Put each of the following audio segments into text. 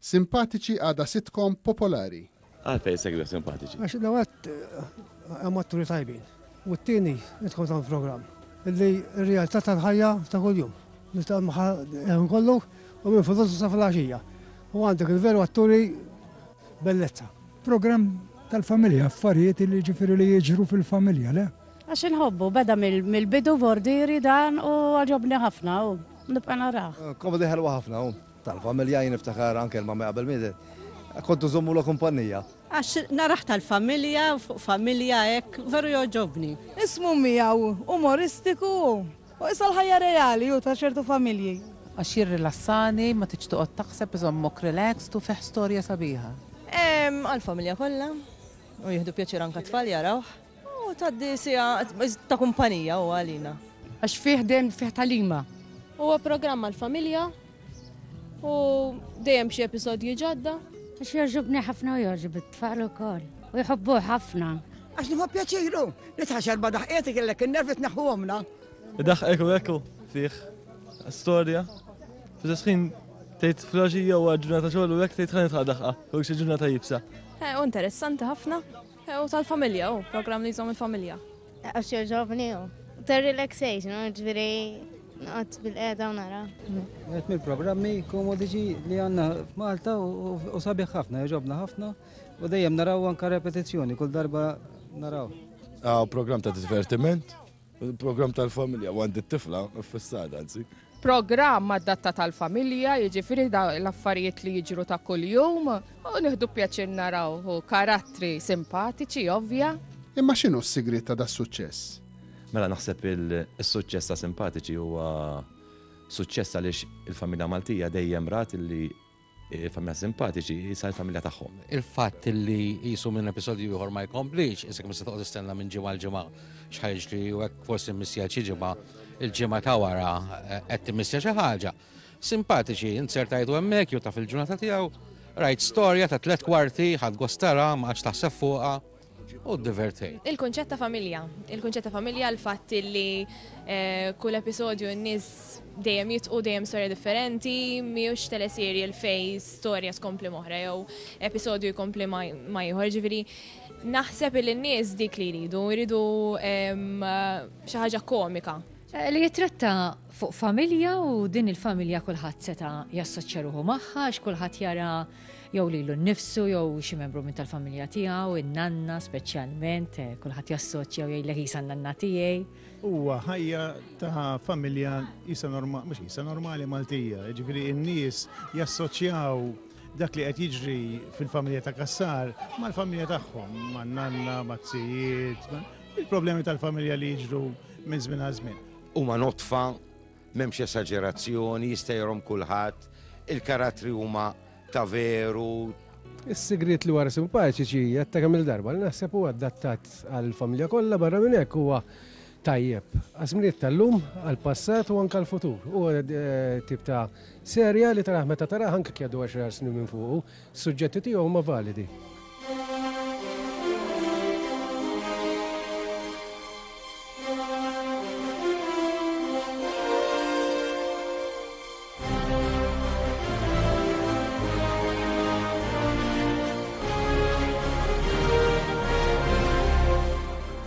Simpatiċi għadha sitcom popolari. Għalfejn segwija simpatiċi? Għax l għat hemm atturi tajbin. U t-tieni idħol ta' programm li r-realtà tal-ħajja ta' kuljum. Nistgħu maħa kollu u minn fudusu sa fil-għaxija. U għandek il-veru atturi bellezza. Programm tal-familja, affarijiet li ġifieri li jiġru fil-familja, le? Għax inħobbu, beda mill-bidu bordiri dan u għaġobni ħafna u nibqa' naraħ. Komedi ħelwa ħafna u. Tal-familja jien niftakar anke l-mamma qabel mietet kont inżommulha kumpannija. Għax narah tal-familja u fuq familja hekk veru jogħġobni. Ismu miegħu umoristiku hu. Hu qisha l-ħajja reali hu ta' ċertu familji. Għax jirrilassani, ma tridx toqgħod taħseb iżommok relaxed u fih storja sabiħa. Għall-familja kollha u jieħdu pjaċir anke t-tfal jarawh. U tgħaddi siegħa ta' kumpanija huwa għalina. Għax fih dejjem fih talima. Huwa programm għall-familja u dejjem xi episodji ġodda. Għax jogħġobni ħafna u jogħġob it-tfal ukoll. U jħobbu ħafna. Għax nħobb pjaċiru li tħaxar ba daħqiet kellek in-nervi tneħħu għomna. Daħqek u ekku fih storja. Fis ħin tgħid flaġija u ġurnata xogħol u hekk tgħid ħanet ħadaħqa u xi ġurnata jibsa. Eh, u interessanti ħafna. U tal-familja, u program li jżom il-familja. Għax joġobni u. Ter relaxation, u ġviri għat bil-qeda u nara. Għet mill-programmi komodiċi li għanna f'Malta u sabiħ ħafna, joġobna ħafna u dejjem naraw anka repetizzjoni, kull darba naraw. Għaw program ta' divertiment, Il-programm tal-familja u għandi t-tifla fissata, anzi. Programm għad-datta tal-familja, jiġifieri l-affarijiet li jiġru ta' kuljum u nieħdu pjaċir naraw u karattri simpatiċi ovvja. Imma x'inhu s-sigriet ta' da' suċċess? Mela naħseb il-suċċess ta' simpatiċi huwa suċċess għaliex il-familja Maltija dejjem rat li familja simpatiċi, jisa l-familja tagħhom. Il-fatt li jisu minn episodju ieħor ma jkomplix, isek mis toqgħod istenna minn ġimgħa l-ġimgħa xħajġ li u hekk forsi missija xi ġimgħa il-ġimgħa ta' wara eh, qed timissja xi ħaġa. Simpatiċi, insertajtu hemmhekk jew taf il-ġurnata tiegħu, rajt storja ta' tliet kwarti, ħadd gostara, ma għadx taħseb fuqha. u divertej. Il-kunċett ta' familja. Il-kunċett ta' familja l-fatt li eh, kull episodju n-nies dejjem jitqu dejjem storja differenti, miux teleseri l-fej storja skompli moħra jew episodju jkompli ma jħor ġifieri. Naħseb li n-nies dik li jridu, jridu ehm, xi ħaġa komika. Eh, li jitratta fuq familja u din il-familja kulħadd seta' jassoċċja ruħu magħha, x'kulħadd jara jew lilu nnifsu jew xi membru minn tal-familja tiegħu, in-nanna speċjalment, eh, kulħadd jassoċja jew jgħidlek isa nanna tiegħi. Huwa ħajja ta' familja isa normali, mhux isa normali Maltija, jiġifieri n-nies jassoċjaw dak li qed jiġri fil-familja ta' Kassar mal-familja tagħhom, man-nanna, mat-tijiet, il-problemi tal-familja li jiġru minn żmien għal żmien. Huma notfa M'hemmx esaġerazzjoni, jista' jgħorhom kulħadd, il-karattri huma ta' veru. Is-sigriet li wara simpaċiċi għedta kemm-il darba li naħseb huwa adattat għall-familja kollha barra minn hekk huwa tajjeb għaż-żminijiet tal-lum, għall-passat u anke għall-futur. Huwa tip ta' serje li taraħ meta taraħ anke jekk jgħaddu għaxar snin minn fuqu. Suġġetti tiegħu huma validi.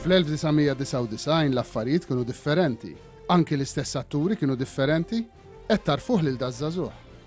Fl-1999 l-affarijiet kienu differenti. Anki l-istess atturi kienu differenti, qed tarfuh lil daż-żagħżugħ.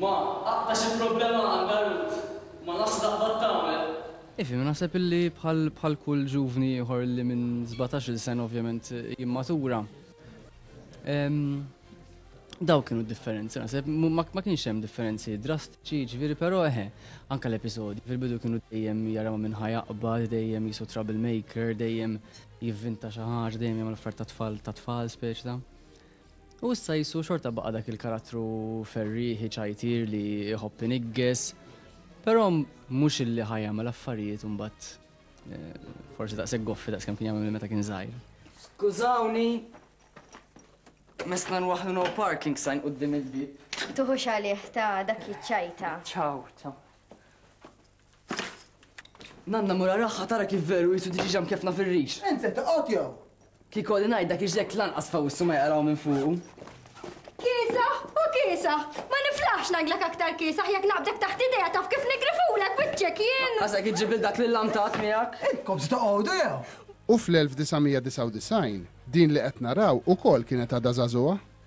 Ma aqta xi problema għandha Ruth ma nafx x'taqbad tagħmel. Ifi, naħseb illi bħal bħal kull ġuvni ieħor illi minn sbatax-il sena ovvjament jimmatura. Ehm, dawk kienu d-differenzi naħseb, ma kienx hemm differenzi drastiċi, jiġifieri però eħe, anke l-episodji fil-bidu kienu dejjem jaraw minn ħa jaqbad, dejjem jisu trouble maker, dejjem jivvinta xi ħaġa, dejjem jagħmel affarijiet ta' tfal ta' tfal speċi ta'. U issa Ġesù xorta baqa' dak il-karattru ferrieħi ċajtier li jħobb inigges, però mhux illi ħa jagħmel affarijiet imbagħad eh, forsi daqshekk goffi daqskemm kien jagħmel meta kien żgħir. Skużawni, mesna nwaħlu no parking sign qudiem il-bib. Tuħux għalih ta' dak jiċċajta. Ciao, ciao. Nanna mur araha tara kif veru qisu diġiġa mkeffna fir-rix. Int se toqgħod jew? Kieku għadni ngħid dak iġlekk lanqas f'awissu ma jaqraw minn fuqu. Kiesaħ u kiesaħ! Ma niflaħx ngħidlek aktar kiesaħ jekk naqbdek taħt idejha taf kif niggrifulek wiċċek jien! Ħasek iġġib lil dak l-illantat miegħek? Intkom se toqgħodu jew? U fl-1999 din li qed naraw ukoll kienet għadha żagħżugħa.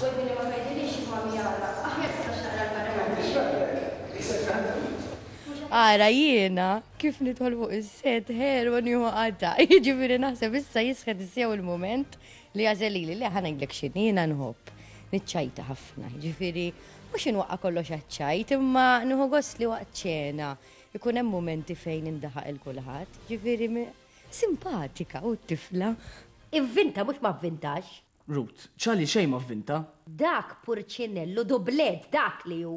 Wedni li ma tgħidilix x'inhuwa mjawla. Aħjar tistax taqra l-Qur'an. Biex jgħallmek, iqisek tant rid. Ara jiena kif nidħol fuq is-set ħelu u nieħu qatgħa. Jiġifieri naħseb issa jisħet sew il-mument li jagħżel lili. Le, ħa ngħidlek x'inhi, jiena nħobb niċċajta ħafna. Jiġifieri mhux inwaqqa' kollox għaċ-ċajt, imma nieħu gost li waqt ċena jkun hemm mumenti fejn indaħaq 'il kulħadd. Jiġifieri, simpatika, u t-tifla. Ivvinta mhux ma vvintax. Rut, Ċa li xejn ma vvinta. Dak purċinellu dublett dak li hu!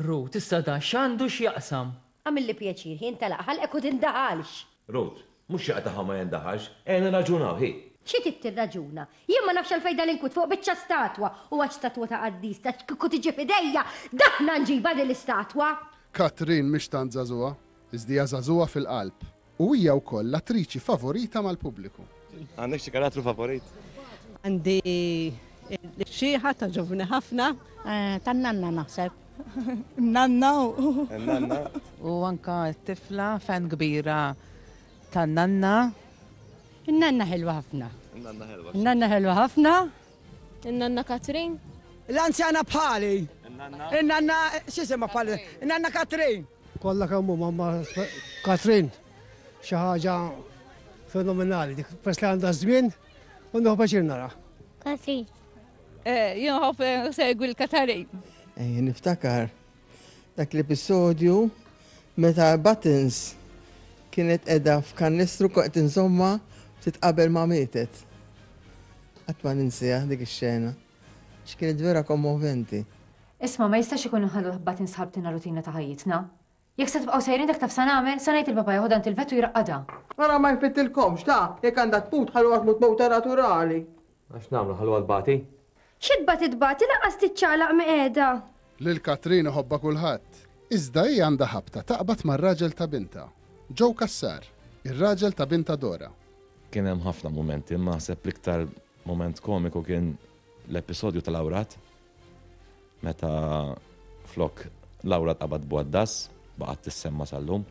Rut, Issa dan x'għandu x'jaqsam? Għamilli pjaċir, hi intalaq ħalqek u tindaħalx! Rut, Mhux xi qataħa ma jindaħalx, ejja nirraġunaw, hi! Xi trid tirraġuna? Jien ma nafx għalfejn dan inkwiet fuq biċċa statwa! U għax statwa ta' qaddis, għax kieku tiġi f'idejja, daħna nġibha din l-istatwa! Katrin mhix tant żagħżugħa, iżda hija żagħżugħa fil-qalb. U hija wkoll l-attriċi favorita mal-pubbliku. Għandek xi karattru favorit? Għandi l-xieħa ta' ġovni ħafna. Eh, Tan-nanna naħseb. Nanna u. Nanna. U anka t-tifla fan kbira tan-nanna. Nanna ħelwa ħafna. Nanna ħelwa. Nanna ħelwa ħafna. Nanna Katrin. L-anzjana bħali. Nanna. Nanna xisima bħali. Nanna Katrin. Kollha kemm huma ma' Katrin xi ħaġa fenomenali dik peress li għandha żmien u nieħu paċir nara. Katrin. Eh, jien ħobb eh, segwi l-Katarin. Eh, niftakar dak l-episodju meta Buttons kienet edha f'kannistru koqt insomma titqabel ma' mietet. Għatma ninsija dik ix-xena. X'kienet vera kommoventi. Isma', ma jistax ikun inħalluh imbagħad insħabtilna rutina ta' ħajjitna. Jekk se tibqgħu sejrin hekk taf sa nagħmel? Se ngħid lil papà jeħodha għand il-vet u jraqqadha. Ara ma jfittilkomx, ta! Jekk għandha tmut, ħalluha tmut mewta naturali. Mela x'nagħmlu, nħalluha tbati? Xi tbati tbati, lanqas tiċċaqlaq miqiegħda! Lil Katrin iħobbha kulħadd. Iżda hi għandha ħabta taqbad mar-raġel ta' bintha, Joe Cassar, ir-raġel ta' bintha Dora. Kien hemm ħafna mumenti, imma naħseb l-iktar mument komiku kien l-episodju tal-awrat Meta flok Laura tqabad bwaddas, baqgħet tissemma sal-lum.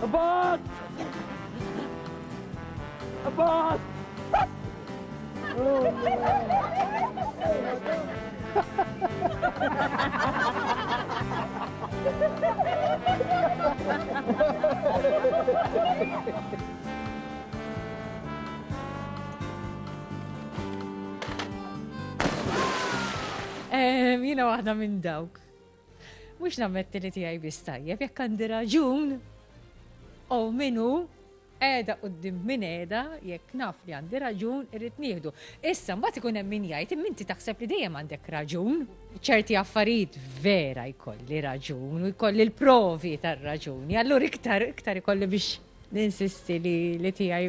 Abad! Abad! Jina waħda minn dawk. Mux nammetti li tijaj bis tajjeb, jekk għandi raġun, u minu, edha u d-dim minn edha, jekk naf li għandi raġun, irrit nieħdu. Issa, mbagħad ikun hemm min jgħid, minti taħseb li dejjem għandek raġun, ċerti affarijiet vera jkolli raġun, u jkolli l-provi tar-raġuni, allura iktar, iktar jkolli biex ninsisti li tijaj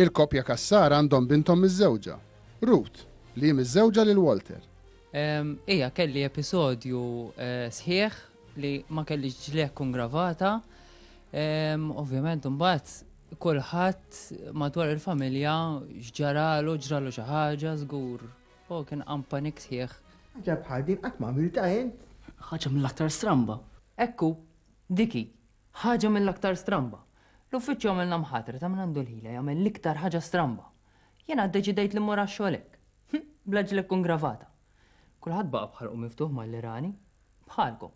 Il-koppja Cassar għandhom binthom miżżewġa, Ruth, li hi miżżewġa lil Walter. Ija, kelli episodju sħiħ li ma kellix ġliegħ tkun gravata. Ovvjament imbagħad kulħadd madwar il-familja x'ġaralu, ġralu xi ħaġa żgur. O kien qam panik sħiħ. Ħaġa bħal din qatt ma għamiltha int? Ħaġa mill-aktar stramba. Hekk hu, dik hi. Ħaġa mill-aktar stramba. L-uffiċċju għamilna mħatra ta' min għandu l-ħila jagħmel l-iktar ħaġa stramba. Jiena ddeċidejt li mmur għax-xogħol hekk. Hm, bla ġlekk u ngravata. Kulħadd baqa' b'ħalqu miftuħ malli rani. Bħalkom.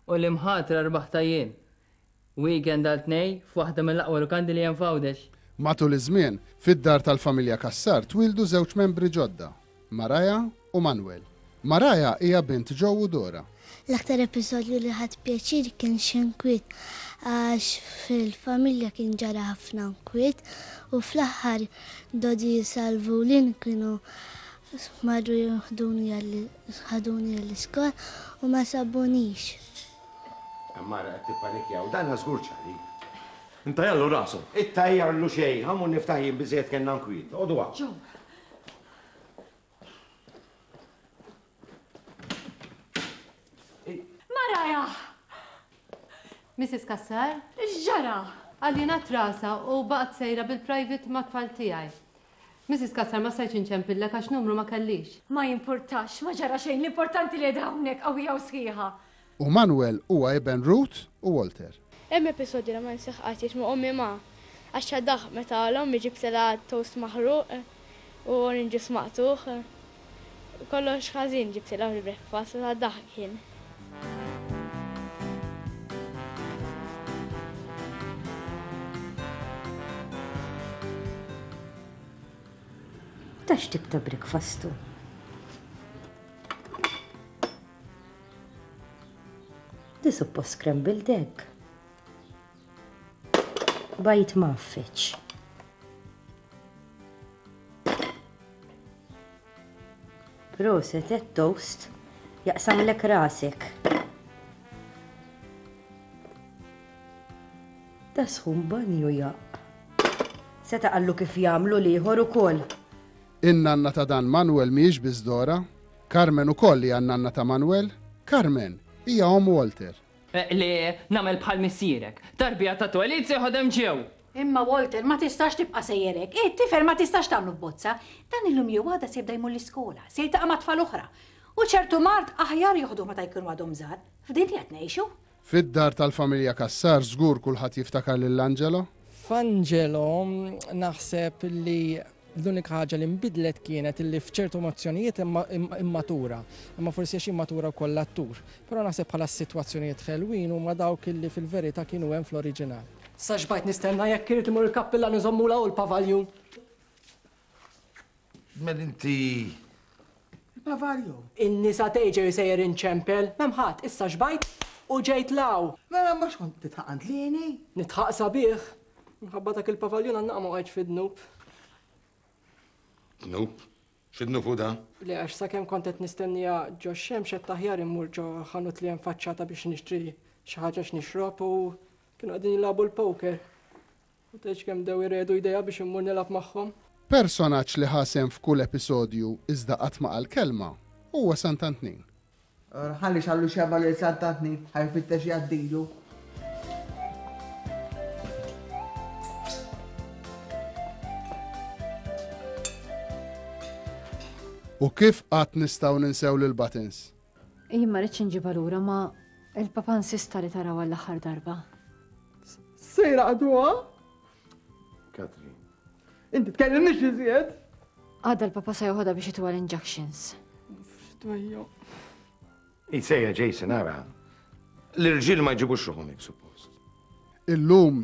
U l-imħatra rbaħtha jien. Weekend għal tnej f'waħda mill-aqwa lukandi li hemm f'Għawdex. Matul iż-żmien, fid-dar tal-familja Cassar twieldu żewġ membri ġodda. Mariah u Manuel. Mariah hija bint Joe u Dora. L-aktar episodju li ħadt pjaċir kien x'inkwiet għax fil-familja kien ġara ħafna nkwiet u fl-aħħar Dodi Salvu Lynn kienu marru jieħduni ħaduni għall-iskola u ma sabunix. Mara qed tippanikja u dan żgur ċari. Intajjarlu rasu. Ittajjarlu xejn, ħa mmur niftaħ jien biżżejjed kellna nkwiet. Oqogħdu hawn. Joe, Mrs. Kassar? X'ġara? Għalina trasa u baqgħet sejra bil-private ma' tfal tiegħi. Mrs. Kassar ma stajtx inċempilla għax numru ma kellix. Ma jimpurtax, ma ġara xejn, l-importanti li hawnhekk qawwija u sħiħa. U Manuel huwa iben Ruth u Walter. Hemm episodju li ma ninsieħ qatt jgħid ma' ommi ma. Għaxxa daħq meta l-ommi ġibtilha toast maħruq u orange juice maqtugħ. Kollox ħażin ġibtilha fil-breakfast ta' daħq kien. Ta' x'tip ta' breakfast hu? Di suppost scrambled egg. Bajt maffiċ. Proset, et toast, jaqsam lek rasek. Da sħun banju jaq. Seta qallu kif jamlu liħor u koll. In-nanna ta' dan Manuel miex bizdora, Carmen ukoll hija n-nanna ta' Manuel. Carmen hija omm Walter. Li nagħmel bħal missierek. Tarbija ta' twelid se jħodd hemm ġew. Imma Walter, ma tistax tibqa' sejjer hekk. Hi, t-tifel ma tistax tagħmlu f'bozza. Dan illum jew għada se jibda jmur l-iskola. Se jiltaqa' ma' tfal oħra. U ċertu mard aħjar joħduh meta jkunu għadhom żgħar. F'din li qed ngħixu. Fid-dar tal-familja Cassar żgur kulħadd jiftakar lil Angelo. F'Angelo naħseb li l-unika ħaġa li nbidlet kienet li f'ċertu mozzjonijiet immatura, imma forsi għax immatura wkoll l-attur. Però naħseb bħala s-sitwazzjonijiet ħelwin huma dawk li fil-verità kienu hemm fl-oriġinal. Sa xbajt nistenna jekk irid imur il-kappillan iżommula hu l-pavaljun. Mel inti Bavario. In-nisa tgħidxi sejjer inċempel, m'hemm ħadd, issa xbajt u ġejt 'l hawn. Mela mhux kont titħaq għand Lieni? Nitħaq sabiħ. Minħabba dak il-pavaljun għan-naqa ma waqgħetx fid-dnub. Dnub? X'idnub hu da? Le għax sakemm kont qed nistenniha ġo x-xemx għedt aħjar immur ġo ħanut li hemm faċċata biex nixtri xi ħaġa x'nixrob u kienu qegħdin jilagħbu l-poker. U tgħidx kemm bdew iredu jdejha biex immur nilgħab magħhom. Personaġġ li ħa sehem f'kull episodju iżda qatt ma qal kelma huwa Sant'Antnin. Ora ħalli xallu xebgħa lil Sant'Antnin ħa jfittex jgħaddilu. U kif qatt nistgħu ninsew lil Buttons? Jien ma rridx inġibha lura ma il-papa nsista li taraw għall-aħħar darba. Sejra għaduha? Katrin. Inti tkellimniex iżjed? Għadda l-papa se joħodha biex itwa l-injunctions. F'dwejju. Isejja Jason ara. L-irġiel ma jġibux ruħhom hekk suppost. Illum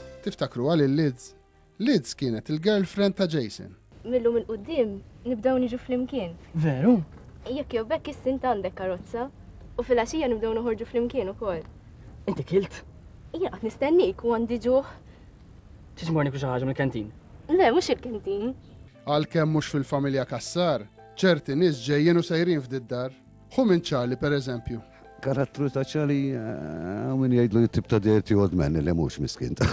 Tiftakruha lil Liz? Liz kienet il-girlfriend ta' Jason. Millu minn qudiem nibdew niġu flimkien. Veru? Jekk jew bekk is-sint għandek karozza u fil-għaxija nibdew noħorġu flimkien ukoll. Inti kilt? Jien qed nistennik u għandi ġuħ. Tiġmorni xi ħaġa mill-kantin? Le, mhux il-kantin. Għalkemm mhux fil-familja Kassar, ċerti nies ġejjin u sejrin f'did-dar. Hu minn Charlie, per eżempju. Karattru ta' Charlie, eh, minn jgħidlu jittib ta' dirti old man li mhux miskin ta'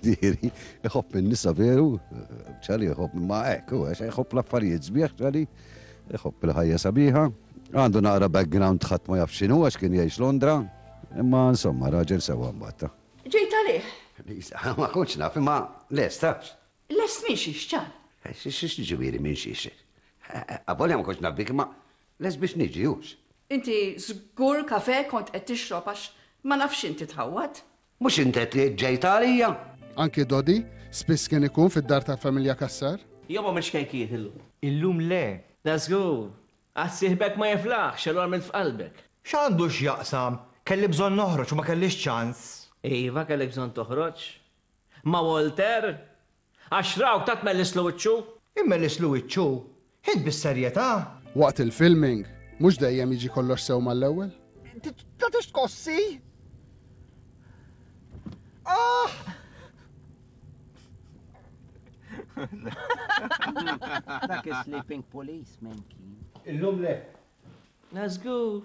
diri. Iħobb minn nisa veru, eh, Charlie iħobb ma' hekk, u għax iħobb l-affarijiet sbieħ Charlie, iħobb il-ħajja sabiħa. Għandu naqra background ħadd ma jaf x'inhu għax kien jgħix Londra, imma insomma raġel sewa mbatta. Ġejt għalih. Lisa, ma kontx naf, imma lest, tafx. Lest minn xiex, ċar. Eh, xiex ġivieri minn xiex. Avolja ma kontx naf bik, imma Lest biex niġi, hux? Inti żgur kafè kont qed tixrob għax ma nafx inti tħawwad. Mhux int qed li ġejt għalija? Anki Dodi spiss kien ikun fid-dar tal-familja Cassar. Jew m'għamiltx kejkijiet illum? Illum le. Da żgur. Għad sieħbek ma jiflaħx, allura għamilt f'qalbek. X'għandu x'jaqsam? Kelli bżonn noħroġ u ma kellix ċans. Iva kellek bżonn toħroġ. Ma' Walter? Għax raw ta' tmellisslu wiċċu. Immellisslu wiċċu? Int bis-serjetà? Waqt il-filming, mhux dejjem jiġi kollox sew mal-ewwel? Tagħtix tkossi? Aah! Dak is-sleeping policeman kien. Illum le. La żgur.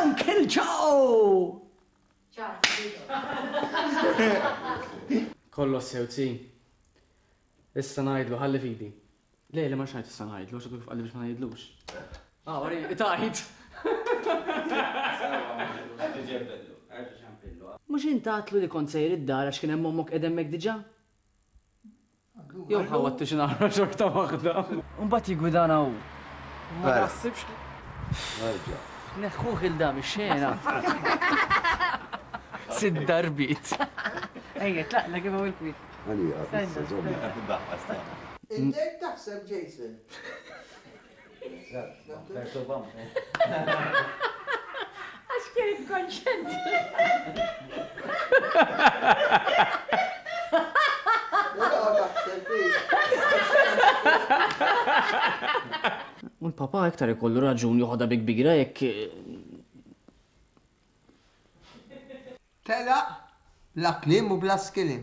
Uncle Joe! Kollox sew tsi. Issa ngħidlu ħalli fidi. Le, le ma xajt issa ngħidlu, x'għadu kif qalli biex ma ngħidlux. Ah, wari, tajt. Mhux intatlu li kont sejr id-dar għax kien hemm ommok qed hemmhekk diġà? Jew ħawattu xi nagħmlu xorta waħda. U mbagħad jiggwidana hu. Ma naħsibx li. Nerġa'. Neħħuh il dam ix-xena. Sid darbit. Ejja, tlaqna kif hawn il-kwiet. Għalija, issa żomm. Intek taħseb Jason. Għax kienet konċent. U l-papa iktar ikollu raġun joħodha bi kbira jekk Tela, bla klim u bla skilim.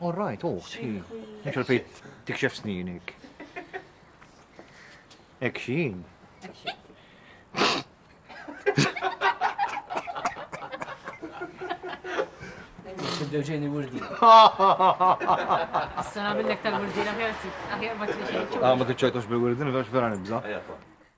All right, oh, xi. Mhux għalfejn tikxef sninik. Ek xin. Tibdew ġejni wurdi. Sena minnek tal-wurdi, aħjar ma t-ċajtux bil-wurdi, vera nibza.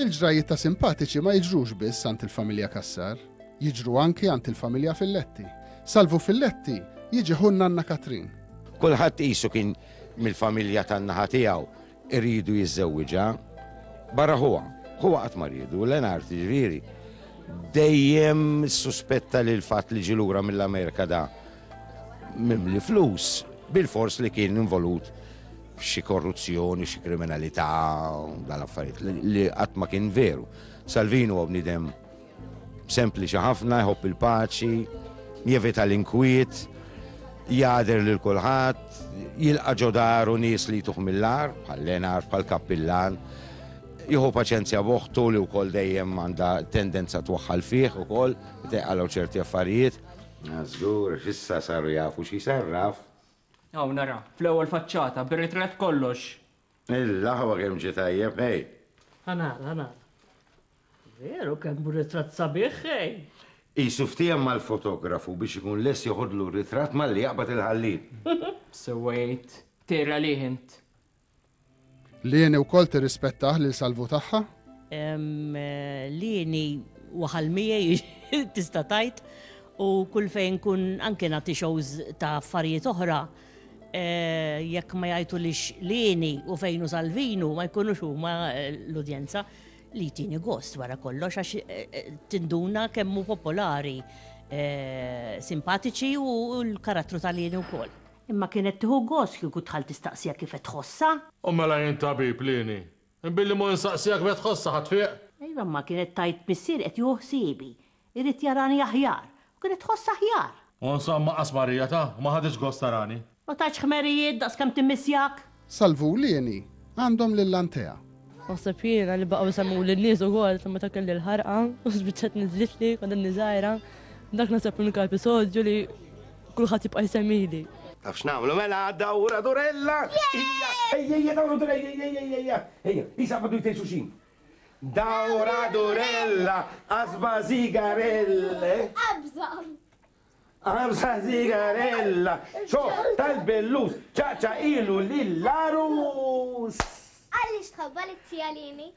Il-ġrajjiet ta' simpatiċi ma jiġrux biss għand il-familja Cassar, jiġru anki għand il-familja Filletti. Salvu Filletti jiġi ħu n-nanna Katrin. Kulħadd qisu kien mill-familja tan-naħa tiegħu iridu jiżżewwiġha. Barra ħuha, ħuha qatt ma riedu, Lenart ġifieri. Dejjem suspetta li l-fatt li ġi lura mill-Amerika da mimli flus bil-fors li kien involut xi korruzzjoni, xi kriminalità, dan affarijiet li qatt ma kien veru. Salvini huwa bniedem sempliċi ħafna, jħobb il-paċi, jevita l-inkwiet, jader lil kulħadd, jilqa' ġodaru nies li jtuħ mill-ar, bħal Lenar, bħal Kappillan, jieħu paċenzja boħtu li wkoll dejjem għandha tendenza twaħħal fih ukoll, teqalgħu ċerti affarijiet. Żgur, issa saru jafu xi sarraf, Hawn ara, fl-ewwel faċċata, bir-ritratt kollox. Il-laħwa kemm ġie tajjeb, ħej! Ħa nara, ħa nara. Veru kemm hu ritratt sabiħ, ħej! Qisu ftiehem mal-fotografu biex ikun lest joħodlu r-ritratt malli jaqbad il-ħallieq. Sewwa jgħid, tgħir għalih int. Lieni wkoll tirrispettah lil Salvu tagħha? Lieni waħal miegħi tista' tgħid u kull fejn kun anke nagħti shows ta' affarijiet oħra Eh, jekk ma jajtu li xlini u fejnu salvinu ma jkunux huma eh, l-udjenza li tini gost wara kollox għax eh, tinduna kemmu popolari simpatiċi u l-karattru tal-jeni u koll. Imma kienet tieħu gost kieku d-dħal tistaqsiha kif qed tħossha. U mela jien tabib li inhi, billi mhu insaqsiha kif qed tħossha ħa tfieq? Iva, imma kienet tgħid missieri qed jieħu ħsiebi, irid jarani aħjar, u kienet tħossha aħjar. U insomma qasmarija ta', ma ħaditx gost tarani. Ma tatx ħmerijiet daqskemm timmissjak? Sal-Vulieni għandhom lil Antea. Naħseb jiena li baqgħu jsemmuli n-nies ukoll sa meta kelli l-ħarqa u spiċċat niżlitli kont inni żgħira. Dak naħseb l-unika episodju li kulħadd jibqa' jsemmili. Taf x'nagħmlu mela għadda ura durella! Ejja, ejja, ejja, dawra durella, ejja, ejja, ejja, ejja, ejja, isa għabdu jtej xuxin. Dawra durella, asba zigarelle. Abżam! Għamsa sigarella, xoħ tal-bellus, ċaqċa ilu lill-għarus. Għaliex tħabba li t-tijalini?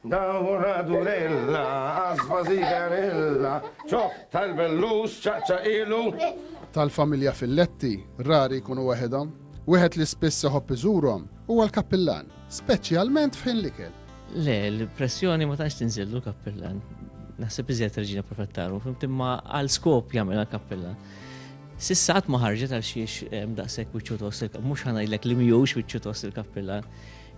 Dawra durella, għasba sigarella, xoħ tal-bellus, ċaqċa ilu. Tal-familja fil-letti, rari kunu waħedhom. Wieħed li spiss iħobb iżurhom huwa l-kappillan, speċjalment f'ħin l-ikel. Le, l-pressjoni ma tantx tinżillu kappellan. Naħseb iżjed reġina profettaru, fimt imma għal skop jagħmel kappellan. Sissat ma ħarġet għal xiex ehm, daqshekk wiċċu tost il-kappellan, mhux ħanajlek li mhux wiċċu tost il-kappellan.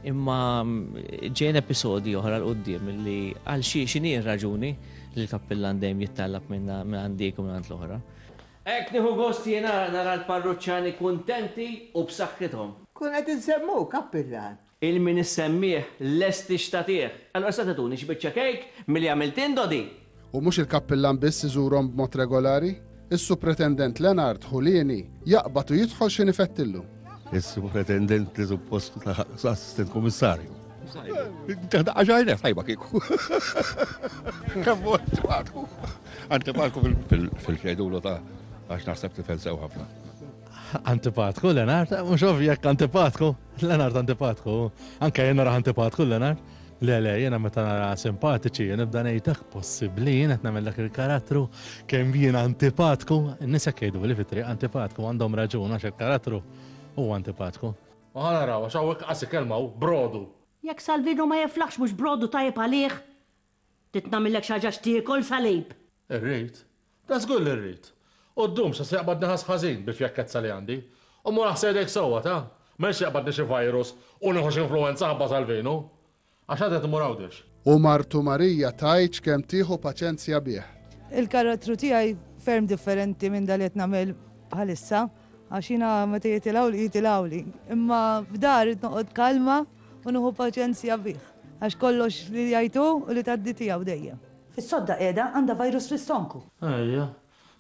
Imma mm, ġejn episodi oħra l qoddim li għal xi xini raġuni li l-kappillan dejjem jittallab minna minn għandik u minn għand l-oħra. Ek nieħu gost jiena nara l-parruċċani kuntenti u b'saħħithom. Kun qed insemmu kappillan, Il-min issemmih lest li xtatih. Allura issa tituni xi biċċa kejk milli għamilt int, Dodi? U mhux il-kappillan biss iżurhom b'mod regolari? Is-Supretendent Lenard Julieni jaqbad u jidħol xi nifettillu. Is-Supretendent li suppost laħaq Assistent Kummissarju. Taħdaqqa ġajna tajba kieku. Kemm huwa antipatku. Antipatku fil-xejdulu ta' għax naħseb tifel sew ħafna. Antipatku, Lenard, mhux ovvjek antipatku. Lenart antipatku, anke jena raħ antipatku Lenart. Le, le, jena meta nara simpatiċi, jena bda nejtak possibli, jena t-namel dak il-karattru, kem jena antipatku, nisa kejdu li fitri antipatku, għandhom raġun għax il-karattru u antipatku. Għana rawa, xawek għasi kelmaw, brodu. Jek Salvino ma jiflaħx mux brodu tajib għalih. Trid nagħmillek xi ħaġa x'tiekol, Salib? Irrid. Da żgur li rrid. U ddum se se jaqbad neħas ħażin bil-fjakkezza li għandi. U mur aħsel idejk sewwa, ta? Ma rridx jaqbadni xi virus u nieħu x'influwenza ħabba tal-vinu. Għax għad qed immur Għawdex. U martu Marija tgħidx kemm tieħu paċenzja bih. Il-karattru tiegħi ferm differenti minn dak li qed nagħmel bħalissa. Għax jiena meta jitilgħuli jitilgħuli, imma f'da rrid noqgħod kalma u nieħu paċenzja bih, għax kollox li jgħid hu u li tgħaddi tiegħu dejjem. Is-sodda qiegħda għandha virus fl-istonku. Ejja.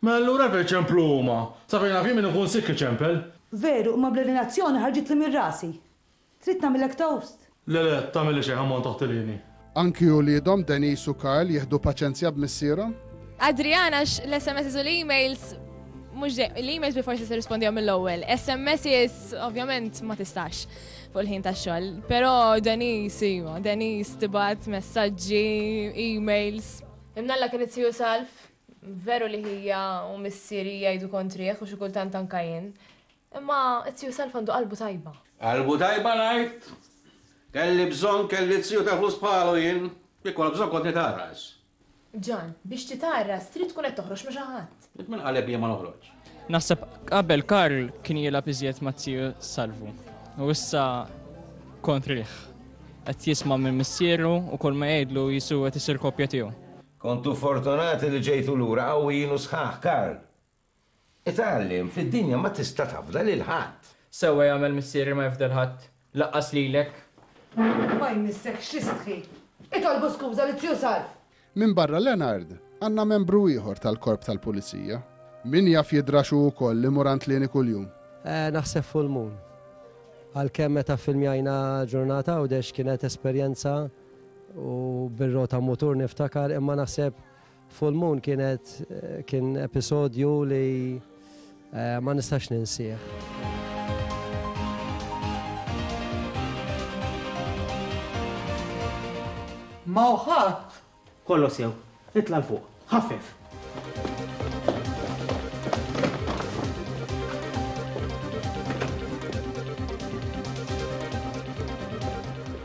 Mela allura hekk iċemplu huma. Sabrina, f'jiem min ikun sikk iċempel. Veru, imma bl-eliminazzjoni ħarġitli minn rasi. Trid nagħmillek toast? Le, le, tagħmilli xejn ħammont taħt il-ħini. Anki uliedhom Denise u Karl jieħdu paċenzja b'missierhom? Adrian għax l-SMSs u l-emails mhux l-emails bi forsi tirrispondihom mill-ewwel. SMSs ovvjament ma tistax fuq il-ħin tax-xogħol. Però Denise iva, Denise tibgħat messaġġi, emails. Imnalla kien it Salf, veru li hija u missieri jgħidu kontrih u xi kultant anka jien. Imma t-tiju Self għandu qalbu tajba. Qalbu tajba ngħid? Kelli bżonn kelli t-tiju ta' flus bħalu jien. Kieku għal bżonn kont nitgħarras. Ġan, biex titgħarras trid tkun qed toħroġ ma' xi ħadd. Int min qalek jien ma noħroġx? Naħseb qabel Karl kien jilgħab iżjed mat-tiju Salvu. U issa kontrih. Qed jisma' minn missieru u kull ma jgħidlu Jisu qed isir kopja tiegħu. Kontu fortunati li ġejtu lura qawwijin u sħaħ, Karl. Itgħallem, fid-dinja ma tista' tafda lil ħadd. Sewwa jagħmel missieri ma jifda 'l ħadd, laqqas lilek. Ma jmissek x'istħi. Itolbu skuża lil Zju Salv! Minbarra Leonard, għandna membru ieħor tal-Korp tal-Pulizija. Min jaf jidrax hu wkoll li mur għand Lieni kuljum? Naħseb full moon. Għalkemm meta ffilmjajna Ġurnata Għawdex kienet esperjenza u bir-rota mutur niftakar imma naħseb Full Moon kienet kien episodju li eh, ma nistax ninsieħ. Ma uħat. Kollo sew, itla l-fuq, ħaffef.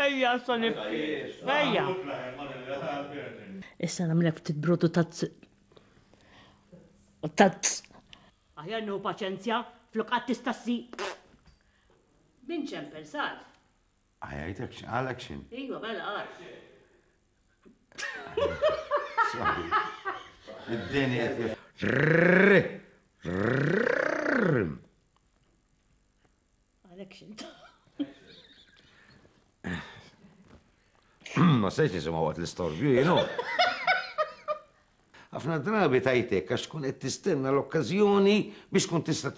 Ejja, sa nibki. Ejja. Issa namlek ftit brodu tazz. Tazz. Aħjar nieħu paċenzja flok qatt tista' ssi. Min ċempel sar? Għajajtek xin, għalek xin. Iva, bella għal. Id-deni għet Għalek xint. Ma sejx nisema għat l-istorbju, jenu. Għafna drabi tajtek għax tkun qed tistenna l-okkazjoni biex tkun tista'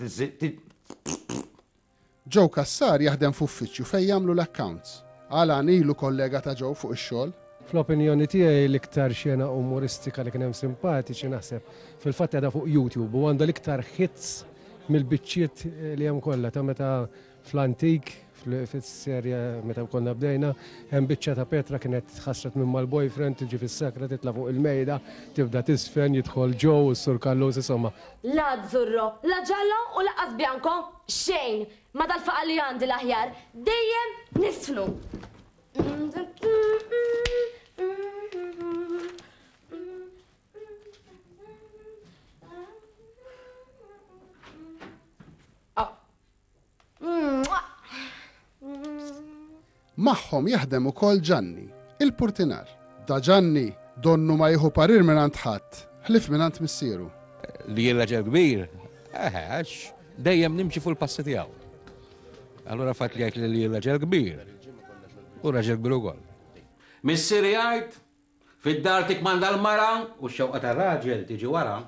Joe Kassar jaħdem f'uffiċċju fejn jagħmlu l-accounts. Alan ilu kollega ta' Joe fuq ix-xogħol. Fl-opinjoni tiegħi l-iktar xena umoristika li kien hemm simpatiċi naħseb fil-fatt qiegħda fuq YouTube u għandha l-iktar hits mill-biċċiet li hemm kollha ta' meta fl-antik fis-serja meta konna bdejna hemm biċċa ta' Petra kienet ħasret minn mal-boyfriend tiġi fis-sakra titla' fuq il-mejda tibda tisfen jidħol Joe u s-Sur Kallus insomma. La azzurro, la giallo u lanqas bianco, xejn! Ma dal-faqar li għandi l-aħjar, dejjem nisfnu! Magħhom jaħdem ukoll Ġanni, il-purtinar. Da Ġanni, donnu ma jieħu parir minn għand ħadd, ħlif minn għand missieru. Li jirraġel kbir, eħe, għax dejjem nimxi fuq il-passi tiegħu. Allura fatt li jgħid li li raġel kbir, u raġel kbir ukoll. Missier jgħid, Fid-dar tikkmanda l-mara u x-xewqa tar-raġel tiġi wara.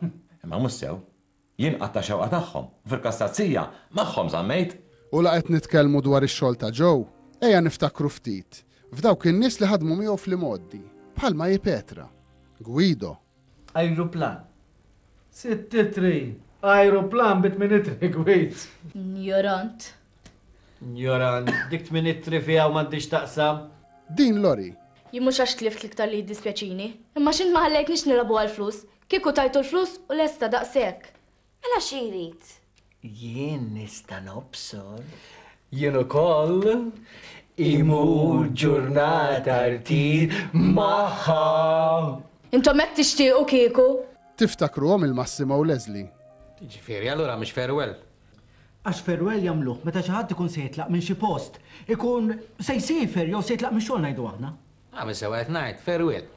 Imma mhux sew. Jien qatt tax-xewqa tagħhom, u fil-każ ta' Zija, magħhom żammejt. U la qed nitkellmu dwar ix-xogħol ta' Joe, ejja niftakru ftit f'dawk in-nies li ħadmu miegħu fl-imgħoddi, bħal Maji Petra, Guido, Ajruplan. Sittitri, ajruplan bi tminitri gwid. Njorant. Njorant, dik tminitri fiha u m'għandhiex taqsam. Din lori. Jien mhux għax tlift l-iktar li jiddispjaċini, imma x'int ma ħallejtnix nilagħbu għall-flus. Kieku tajtu l-flus u lesta daqshekk. Mela xi jrid? Jien nista' nobsor. Jien ukoll. Imur ġurnata rtir magħha. Intom hekk tixtiequ kieku? Tiftakruhom il-Massimo u Leslie? Jiġifieri, allura mhix farewell? Għax farewell jagħmluh meta xi ħadd ikun se jitlaq minn xi post. Ikun se jsiefer jew se jitlaq mix-xogħol ngħidu aħna. Agħmel sewwa qed ngħid, farewell.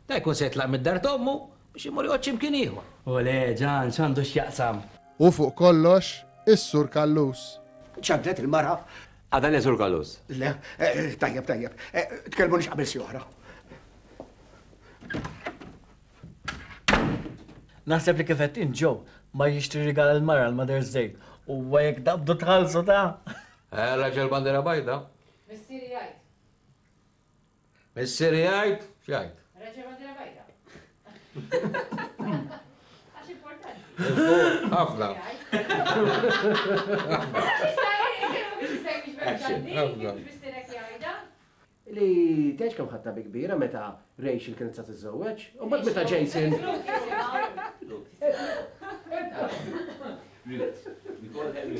Dan ikun se jitlaq mid-dar t'ommu Biex imur jgħodd x'imkien ieħor. Olè, Ġan, x'għandu x'jaqsam? U fuq kollox, is-Sur Callus. Ċaddlet il-mara. Għada le, Sur Callus? Le, tajjeb, tajjeb. Tkellmunix qabel siegħa Naħseb li kif qed inġew ma jixtri rigal il-mara l-Mother's Day u jekk dabdu tħallsu ta'. Eh, raġel bandera bajda. Missieri jgħid. Missieri jgħid x'jgħid. Raġel ma' dira bajda. Għax importanti. Ħafna. Li tgħidx kemm ħatta bi kbira meta Rachel kienet sa tiżżewweġ, u mbagħad meta Jason. Nicole Henry.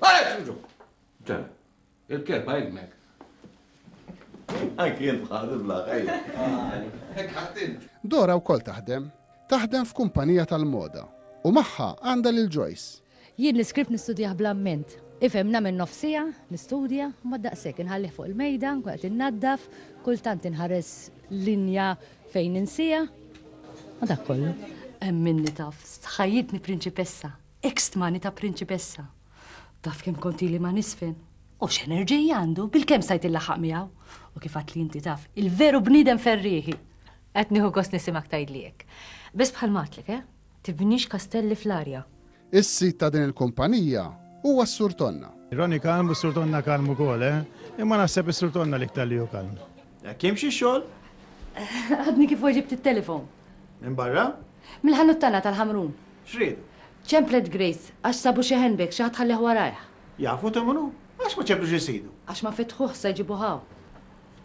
Għalek xinġu! Ġan, il-kelba jgħidmek. Anki jent bħal il-blaħ, ejja. Dora u kol taħdem, taħdem f'kumpanija tal-moda u maħħa għanda lil Joyce. Jien l-iskript nistudjaħ blamment. Ifem namen nofsija, nistudja, ma daqsek inħallih fuq il-mejda, kwaqt innaddaf, kultant inħares linja fejn insija. Ma dak kollu. Minni taf, ħajjitni prinċipessa. Hekk stmani ta' prinċipessa. Taf kemm kont ili ma nisfen? U x'enerġija għandu, bilkemm stajt illaħħaq miegħu. U kif għadt li inti taf, il-veru bniedem ferrieħi. Qed nieħu gost nisimgħek tgħidli hekk. Biss bħal m'għadtlek, eh? Tibnix kastelli fl-arja. Is-sid ta' din il-kumpanija huwa s-Sur Tonna. Ronnie kalm u s-Sur Tonna kalm ukoll, eh? Imma naħseb is-Sur Tonna l-iktar li hu kalm. Hekk jimxi x-xogħol? Għadni kif weġibt it-telefon. Minn barra? Mill-ħanut tagħna tal-Ħamrun. X'riedu? Ċemplet Grace għax sabu xi handbag xi ħadd ħallih warajh. Jafu ta' min hu? Għax ma ċemplux is-sidu? Għax ma fetħuh sa jġibuh hawn.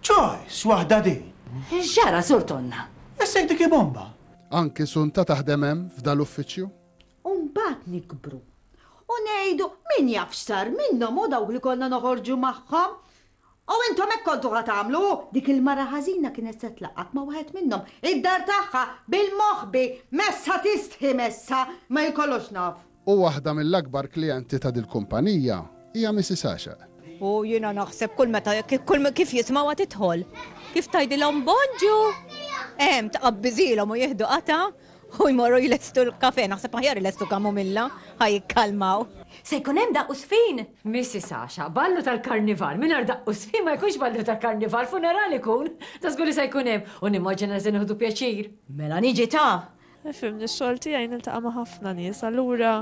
Choice waħda din! X'ġara Sur Tonna? Issek dik hi bomba! Anki Sunta taħdem hemm f'dan l-uffiċċju? U mbagħad nikbru. U ngħidu min jaf x'sar minnhom u dawk li konna noħorġu magħhom. U intom hekk kontu ħa tagħmlu! Dik il-mara ħażina kienet se tlaqqgħek ma' waħed minnhom, id-dar tagħha, bil-moħbi! Messha tistħi, messha! Ma hi kollox naf. U waħda mill-akbar klijenti ta' dil-kumpanija hija Missis Għaxaq. U jiena naħseb kull meta, kull kif jismgħuha tidħol, kif tgħidilhom Bonġu! Hemm, tqabbiżilhom u jieħdu qatgħa. U jmorru jlestu l-kafè, naħseb aħjar ilestu kamomilla, ħa jikkalmaw. Se jkun hemm daqq u żfin? Missi Sasha, ballu tal-karnival mingħajr daqq u żfin ma jkunx ballu ta' karnival, funeral ikun! Da żgur li se jkun hemm, u nimmaġina li se nieħdu pjaċir. Mela niġi ta! Fimni, x-xogħol tiegħi niltaqa' ma' ħafna nies, allura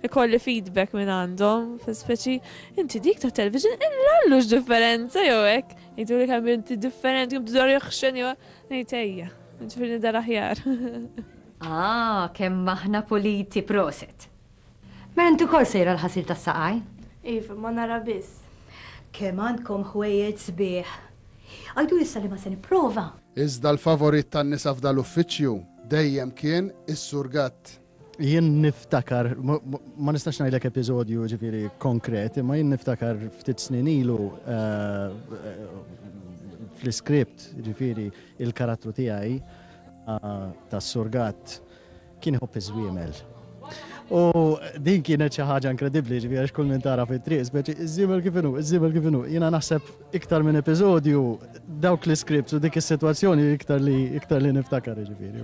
ikolli feedback minn għandhom, speċi, inti dik tat-television, illa Allu x'differenza jew hekk. Jgħiduli kemm inti differenti, kemm tidher jaħxen jew ngħid ejja. Ġifir nidher aħjar. Ah, kemm aħna puliti proset. Mela inti wkoll sejra l-ħasil tas-saqaj? Iva, ma nara biss. Kemm għandkom ħwejjeġ sbieħ. Għidu issa li ma se nipprova. Iżda l-favorit tan-nisa f'dal-uffiċċju dejjem kien is-Sur Gatt. Jien niftakar, ma nistax ngħidlek episodju ġifieri konkret, imma jien niftakar ftit snin ilu fl-iskript ġifieri il-karattru tiegħi tas-surgat kien iħobb iż-żwiemel. U din kienet xi ħaġa inkredibbli ġifieri għax kull min tara fit-triq, speċi iż-żiemel kif inhu, iż-żiemel kif inhu. Jiena naħseb Iktar minn episodju, dawk l-iskripts u dik is-sitwazzjoni iktar li iktar li niftakar jiġifieri.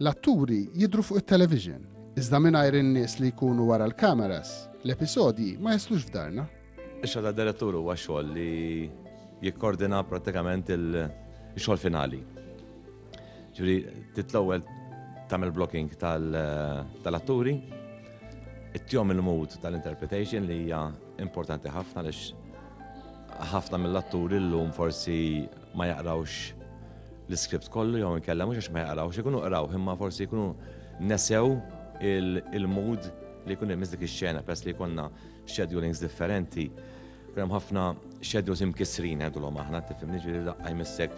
L-atturi jidhru fuq it-television, iżda mingħajr in-nies li jkunu wara l-kameras, l-episodji ma jaslux f'darna. Ix-xogħol tad-direttur huwa xogħol li jikkordina prattikament il-xogħol finali. Ġifieri trid l-ewwel tagħmel blocking tal-atturi, ittihom il-mood tal-interpretation li hija importanti ħafna għaliex ħafna mill-atturi llum forsi ma jaqrawx l-iskript kollu jew inkella mhux għax ma jaqrawx, ikunu qraw imma forsi jkunu nesew il-mood li jkun hemm dik ix-xena peress li jkollna schedulings differenti. Hemm ħafna schedules imkissrin ngħidulhom aħna, tifhimni ġieli daqqa jmissek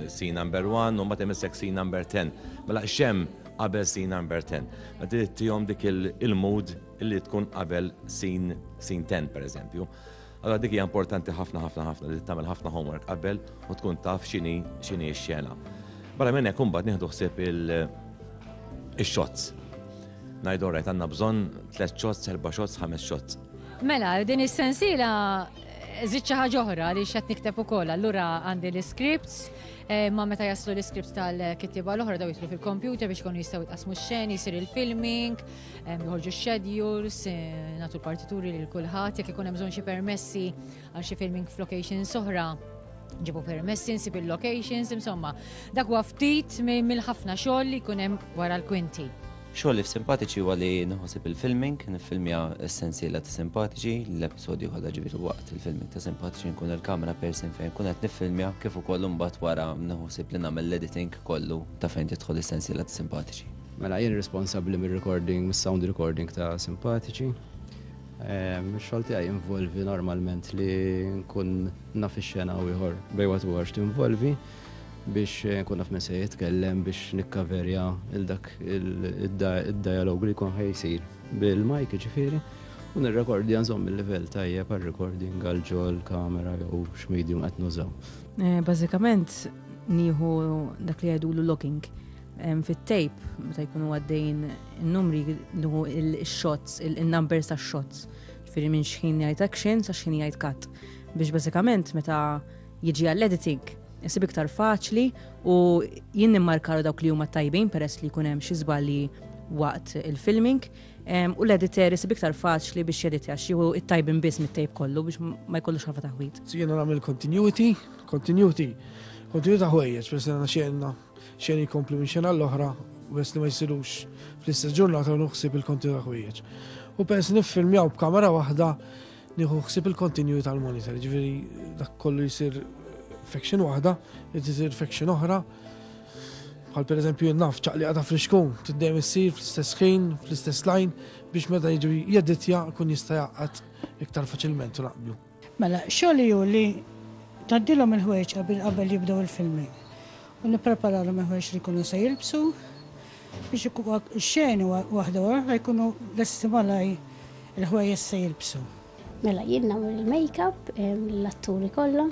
scene number 1 u mbagħad imissek scene number 10. Mela xem qabel scene number 10. Ma trid tihom dik il-mood li tkun qabel scene 10 pereżempju. Allora dik hija importanti ħafna ħafna ħafna li tagħmel ħafna homework qabel u tkun taf x'inhi x'inhi x-xena. Barra minn hekk imbagħad nieħdu ħsieb il-shots. Ngħidu rajt għandna bżonn tliet shots, erba' shots, ħames shots. Mela, din is-sensiela Zid xi ħaġa oħra li xed nikteb ukoll, allura għandi l-scripts, eh, ma meta jaslu l-scripts tal-kittiba l-oħra daw jitlu fil-kompjuter biex konu jistgħu jitqasmu x-xeni, jsir il-filming, Joħorġu x-schedules, eh, natu l-partituri lil kulħadd, jekk ikun hemm bżonn xi permessi għal xi filming f'locations oħra ġibu permessi nsib il-locations, insomma, dak huwa ftit mill-ħafna xogħol li jkun hemm wara l-kwinti. Xogħol li f'simpatiċi huwa li nħosib il-filming, nifilmja essenzjela ta' simpatiċi, l-episodju kollha ġifieri waqt il-filming ta' simpatiċi nkun il-kamera persin fejn kun qed nifilmja kif ukoll imbagħad wara nħosib li nagħmel l-editing kollu ta' fejn tidħol essenzjela ta' simpatiċi. Mela jien responsabbli mir-recording, mis-sound recording ta' Simpatiċi. Ehm, Xogħol tiegħi involvi normalment li nkun naf ix-xena u ieħor bejwa tu għax tinvolvi biex eh, nkun naf minn se jitkellem biex nikkaverja il dak id-dialog li jkun ħajsir bil-mike ġifieri u nirrekordja nżomm il-livell tajjeb għal recording għal ġol kamera jew x'medium qed nużaw. Eh, bażikament nieħu dak li jgħidulu logging fit-tejp meta jkunu għaddejn in-numri nuhu il-shots, il-numbers ta' shots. Ġifieri minn xħin jgħid action sa xħin jgħid cut. Biex bażikament meta jiġi għall-editing isib iktar faċli u jien nimmarkaru dawk li huma tajbin peress li jkun hemm xi żbalji waqt il-filming u l-editor isib iktar faċli biex jeditja xieħu it-tajbin biss mit-tejp kollu biex ma jkollux ħafa taħwit. Jiena nagħmel continuity, continuity, continuity ta' ħwejjeġ, peress li xejna Xejn jkompli minn xena l-oħra bes li ma jsirux fl-istess ġurnata nuħsib il-konti ta' ħwieġ. U pens niffilmjaw b'kamera waħda nieħu ħsib il-kontinju tal-monitor, ġifieri dak kollu jsir faction waħda, jtisir faction oħra. Bħal per eżempju naf ċaqli għata friskun, tiddem issir fl-istess ħin, fl-istess lajn, biex meta jiġu jedditja kun jista' jaqgħad iktar faċilment u naqblu. Mela, xogħli hu li tgħaddilhom il-ħwejġqa bil qabel jibdew il-filmi u nippreparalhom il-ħwejġ li jkunu se jilbsu biex ix-xeni waħda wara l-oħra jkunu lesti malaj il-ħwejjeż se jilbsu. Mela, jien nagħmel il-makeup l-atturi kollha.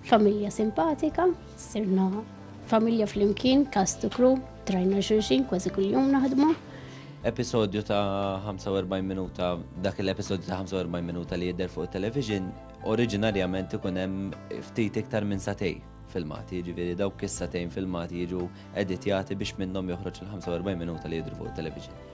Familja simpatika, sirna familja flimkien, cast to crew. Trajna xulxin kważi kuljum naħdmu. Episodju ta' 45 minuta, dak l-episodju ta' 45 minuta li jidher fuq television, oriġinarjament ikun hemm ftit iktar minn satej filmati, ġiviri dawk is-satejn filmati jiġu editjati biex minnhom joħroġ il-45 minuta li jidru fuq television.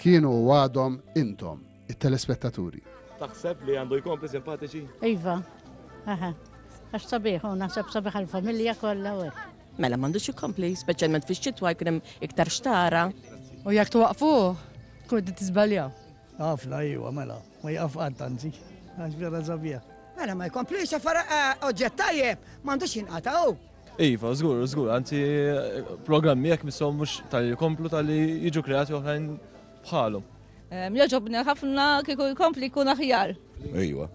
Kienu u għadhom intom, it-telespettaturi. Taħseb li għandu jkompli simpatiċi? Iva, aha. Għax sabiħ, u naħseb sabiħ għal-familja kollha u Mela m'għandux jkompli, speċjalment fix-xitwa jkun hemm iktar xtara. U jekk twaqfu, tkun qed tiżbaljaw. Ħafna iwa mela, ma jaqaf qatt anzi, għax vera sabiħ. Mela ma jkomplix affar eh, oġġett tajjeb, m'għandux jinqataw. Iva, żgur, żgur, anzi programmi jekk missom mhux tal-li jkomplu tal-li jiġu kreati oħrajn bħalhom. Joġobni ħafna kieku jkompli jkun aħjar. Iva,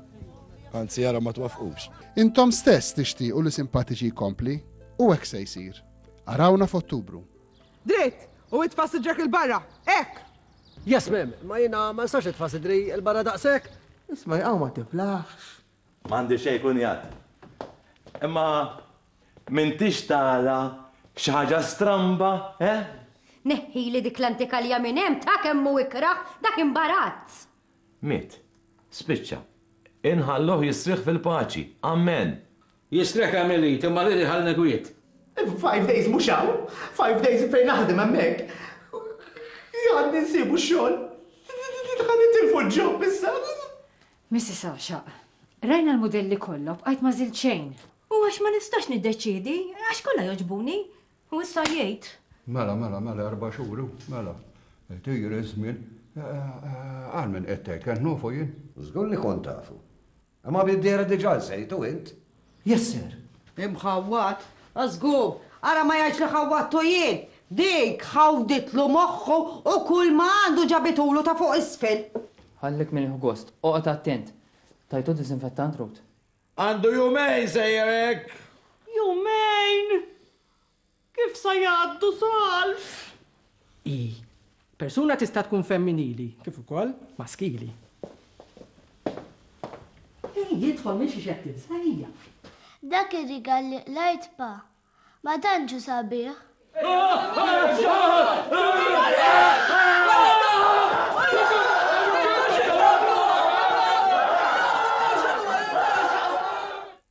anzi jara ma twafqux. Intom stess tixtiequ li simpatiċi jkompli u hekk se jsir. Arawna f'Ottubru. Dritt, u itfas ġek il-barra, ek! Yes, mem, ma jina ma nistax itfas id-dri il-barra daqsek. Isma jgħaw ma tiflaħx. M'għandi xejn kunjat. Imma m'intix tara xi ħaġa stramba, eh? Neħħili dik l-antikalja minn hemm, ta' kemm hu ikrah dak imbarazz! Miet. Spiċċa. Inħalluh jistrieħ fil-paċi. Ammen. Jistrieħ kemm irid, imma rrid iħallni kwiet. Five days mhux hawn. Five days fejn naħdem hemmhekk. Għandi nsibu x-xogħol. Ħa nitilfu l-job issa. Missis Għaxaq, Rajna l-mudelli kollha u bqajt ma żilt xejn. U għax ma nistax niddeċiedi, għax kollha jogħġbuni. U issa jgħid. Mela, mela, mela erba' xhur u, mela, qed jgħir iż-żmien. Għal min qed tgħid, kont nafu jien? Żgur li kont tafu. Imma bid-dehra diġà lsejtu int. Yes, sir. Imħawwad? A żgur! Ara ma jgħidx li ħawwadtu jien! Dik ħawditlu moħħu u kulma għandu ġabitulu ta' fuq isfel! Ħallek minn il-ħgost. Oqgħod attent! Tajtu disinfettant, Ruth? Għandu jumejn sejjer hekk! Jumejn! Kif sa jgħaddu salf? Ii. Persuna tista' tkun femminili kif ukoll maskili. Min jidħol minn xi xedt tibża' hija. Dak ir-rigal li qlajt pa. Ma tantx hu sabiħ.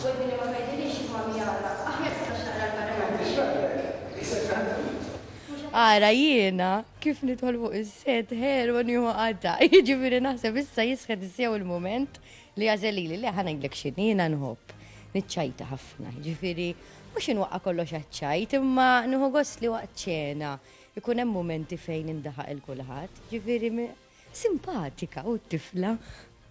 Wedni li ma tgħidilix x'inhuwa mjara, aħjar tistax taqra l-Parlament biex jgħinlek. Ara jiena kif nidħol fuq is-set ħelu u nieħu qatgħa. Jiġifieri naħseb issa jisħet sew il-mument li jagħżel lili. Le, ħa ngħidlek x'inhi, jiena nħobb niċċajta ħafna. Jiġifieri mhux inwaqqa' kollox għaċ-ċajt, imma nieħu gost li waqt ċena jkun hemm mumenti fejn indaħaq 'il kulħadd. Jiġifieri simpatika, hu t-tifla.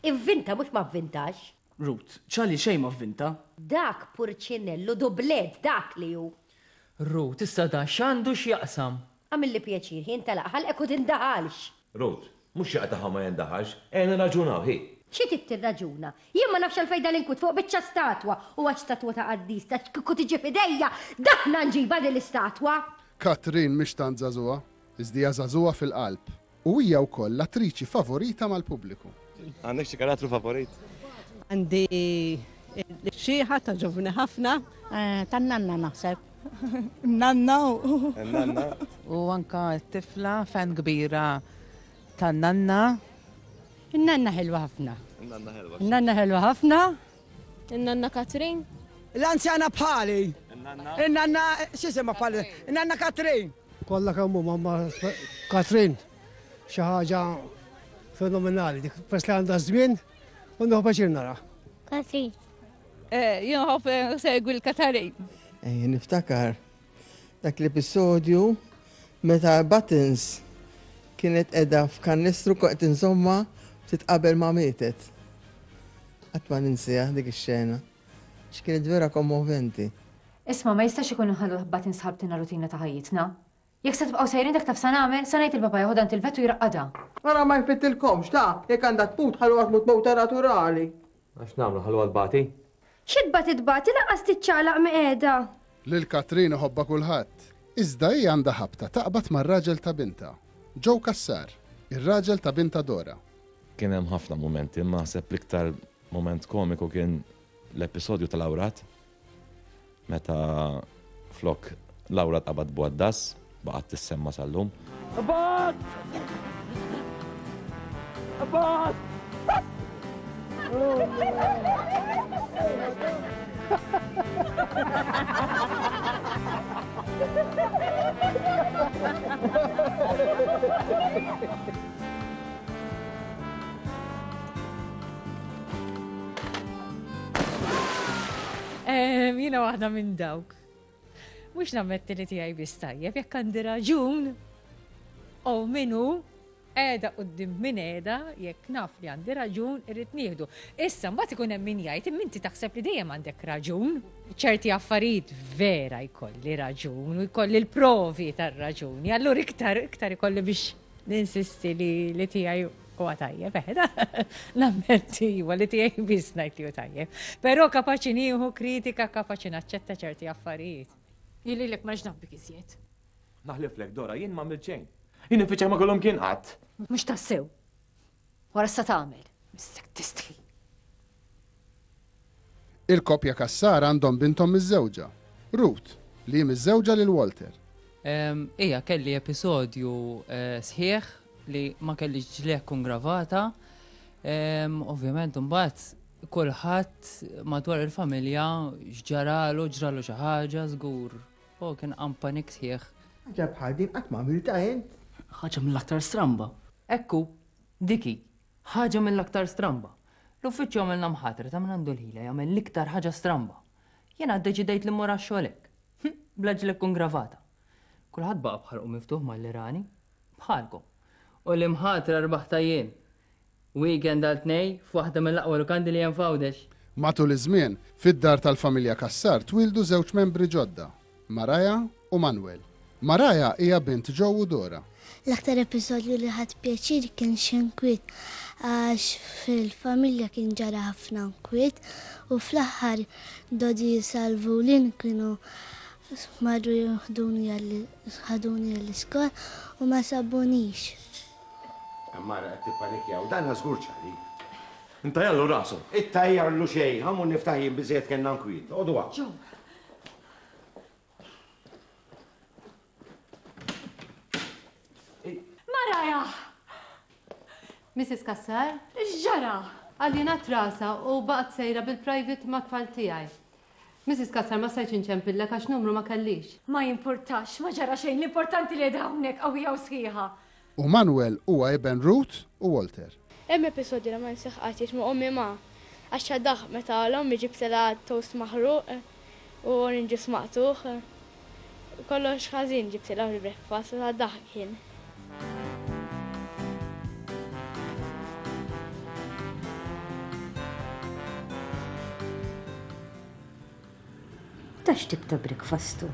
Ivvinta mhux ma vvintax. Ruth, Charlie xejn ma vvinta. Dak purċinellu dublett dak li hu! Ruth, Issa dan x'għandu x'jaqsam? Għamilli pjaċir, hi intalaq ħalqek u tindaħalx! Ruth, Mhux xi qatagħha ma jindaħalx, ejja nirraġunaw, hi! Xi trid tirraġuna? Jien ma nafx għalfejn dan inkwit fuq biċċa statwa! U għax statwa ta' qaddis ta' kieku tiġi f'idejja, daħna nġibha din l-istatwa! Katrin mhix tant żagħżugħa, iżda hija żagħżugħa fil-qalb. U hija wkoll l-attriċi favorita mal-pubbliku. Għandek xi karattru favorit? Għandi l-xieħa ta' ġovni ħafna. Eh, ta' nanna naħseb. Nanna u. Nanna. U anka tifla fan kbira ta' nanna. Nanna ħelwa ħafna. Nanna ħelwa. Nanna ħelwa ħafna. Nanna Katrin. L-anzjana bħali. Nanna. Nanna, xisima bħali. Nanna Katrin. Kollha kemm huma ma' Katrin xi ħaġa fenomenali dik peress li għandha żmien u nieħu paċir nara. Katrin. Eh, jien ħobb eh, segwi l-Katarin. Eh, niftakar dak l-episodju meta Buttons kienet edha f'kannistru koqt insomma titqabel ma' mietet. Għatma ninsija dik ix-xena. X'kienet vera kommoventi. Isma', ma jistax ikun li nħallu l-ħbbat insħabtilna rutina ta' ħajjitna. Jekk se tibqgħu sejrin dak taf sa nagħmel, sa ngħid lil papà jeħodha għand il-vet u jraqqadha. Ara ma jfittilkomx, ta! Jekk għandha tmut, ħalluha tmut mewta naturali. Mela x'nagħmlu, nħalluha tbati? Xi tbati tbati, lanqas tiċċaqlaq mi qiegħda. Lil Katrin iħobbha kulħadd. Iżda hi għandha ħabta taqbad mar-raġel ta' bintha, Joe Cassar, ir-raġel ta' bintha Dora. Kien hemm ħafna mumenti, imma naħseb l-iktar mument komiku kien l-episodju tal-awrat Meta flok Laura tqabad bwaddas, baqgħet tissemma sal-lum. Abad! Abad! Jina waħda minn dawk. Mux nammetti li tijaj bis tajjeb, jekk għandi raġun, u minu, edha u d-dim minn edha, jekk naf li għandi raġun, irrit nieħdu. Issa, mbagħad ikun hemm min jgħid, minti taħseb li dejjem għandek raġun, ċerti affarijiet vera jkolli raġun, u jkolli l-provi tar-raġuni, allura iktar, iktar jkolli biex ninsisti li, li tijaj Huwa tajjeb, eh, da, nammetti iva li tiegħi biss ngħid li hu tajjeb. Però kapaċi nieħu kritika, kapaċi naċċetta ċerti affarijiet. Jili lek ma ġnabbik iżjed. Naħlif lek Dora, jien ma milċejn. Jien infiċċa ma kollhom kien qatt. Mhux tassew. Wara sa tagħmel. Mistek tistħi. Il-koppja Cassar għandhom binthom miżżewġa, Ruth, li hi miżżewġa lil Walter. Ija, kelli episodju sħiħ li ma kellix ġliegħ tkun gravata. Ovvjament imbagħad kulħadd madwar il-familja x'ġaralu, ġralu xi ħaġa żgur. O kien qam panik sħiħ. Ħaġa bħal din qatt m'għamiltha int? Ħaġa mill-aktar stramba. Hekk hu, dik hi. Ħaġa mill-aktar stramba. L-uffiċċju għamilna mħatra ta' min għandu l-ħila jagħmel l-iktar ħaġa stramba. Jiena ddeċidejt li mmur għax-xogħol hekk. Hm, bla ġlekk u ngravata. Kulħadd baqa' b'ħalqu miftuħ malli rani. Bħalkom. U l-imħatra rbaħtha jien. Weekend għal tnej f'waħda mill-aqwa lukandi li hemm f'Għawdex. Matul iż-żmien, fid-dar tal-familja Cassar twieldu żewġ membri ġodda. Mariah u Manuel. Mariah hija bint Joe u Dora. L-aktar episodju li ħadt pjaċir kien x'inkwiet għax fil-familja kien ġara ħafna nkwiet u fl-aħħar Dodi Salvu Lynn kienu marru jieħduni ħaduni għall-iskola u ma sabunix. Mara qed tippanikja u dan żgur ċari. Intajjarlu rasu. Ittajjarlu xejn, ħa mmur niftaħ jien biżżejjed kellna nkwiet. Oqogħdu hawn. Joe, Mrs. Kassar? X'ġara? Għalina trasa u baqgħet sejra bil-private ma' tfal tiegħi. Mrs. Kassar ma stajtx inċempilla għax numru ma kellix. Ma jimpurtax, ma ġara xejn, l-importanti li hawnhekk qawwija u sħiħa. U Manwel huwa iben Ruth u Walter. Hemm episodju li ma ninsieħ qatt jgħid ma' ommi ma għadx daħq meta l-ommi ġibtilha toast maħruq u orange juice maqtugħ. Kollox ħażin ġibtilha fil-breakfast ta' daħq kien. Ta' x'tip ta' breakfast hu?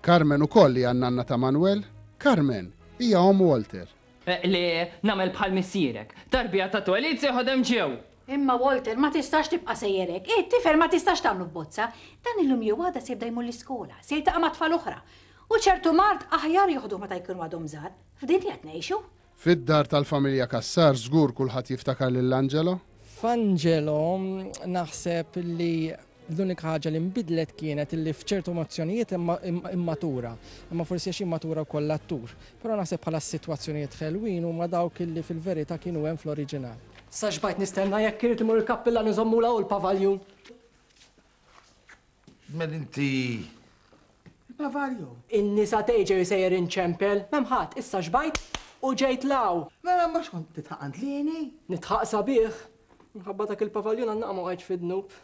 Carmen ukoll hija n-nanna ta' Manuel. Carmen hija omm Walter. Li nagħmel bħal missierek. Tarbija ta' twelid se jħodd hemm ġew. Imma Walter, ma tistax tibqa' sejjer hekk. Hi t-tifel ma tistax tagħmlu f'bozza. Dan illum jew għada se jibda jmur l-iskola, se jiltaqa' ma' tfal oħra. U ċertu mard aħjar joħduh meta jkunu għadhom żgħar. F'din li qed ngħixu. Fid-dar tal-familja Cassar żgur kulħadd jiftakar lil Angelo. F'Angelo naħseb li l-unika ħaġa li nbidlet kienet li f'ċertu emozzjonijiet immatura, imma forsi għax immatura wkoll l-attur. Però naħseb bħala s-sitwazzjonijiet ħelwin huma dawk li fil-verità kienu hemm fl-oriġinal. Sa xbajt nistenna jekk irid imur il-kappillan iżommula hu l-pavaljun. Mel inti Bavarjo? In-nisa tgħidxi sejjer inċempel, m'hemm ħadd, issa xbajt u ġejt 'l hawn. Mela mhux kont titħaq għand Lieni? Nitħaq sabiħ. Minħabba dak il-pavaljun għan-naqa ma waqgħetx fid-dnub.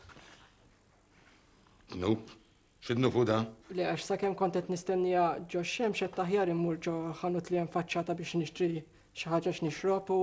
Dnub? X'dnub hu da? Le għax sakemm kont qed nistenniha ġo x-xemx għedt aħjar immur ġo ħanut li hemm faċċata biex nixtri xi ħaġa x'nixrob u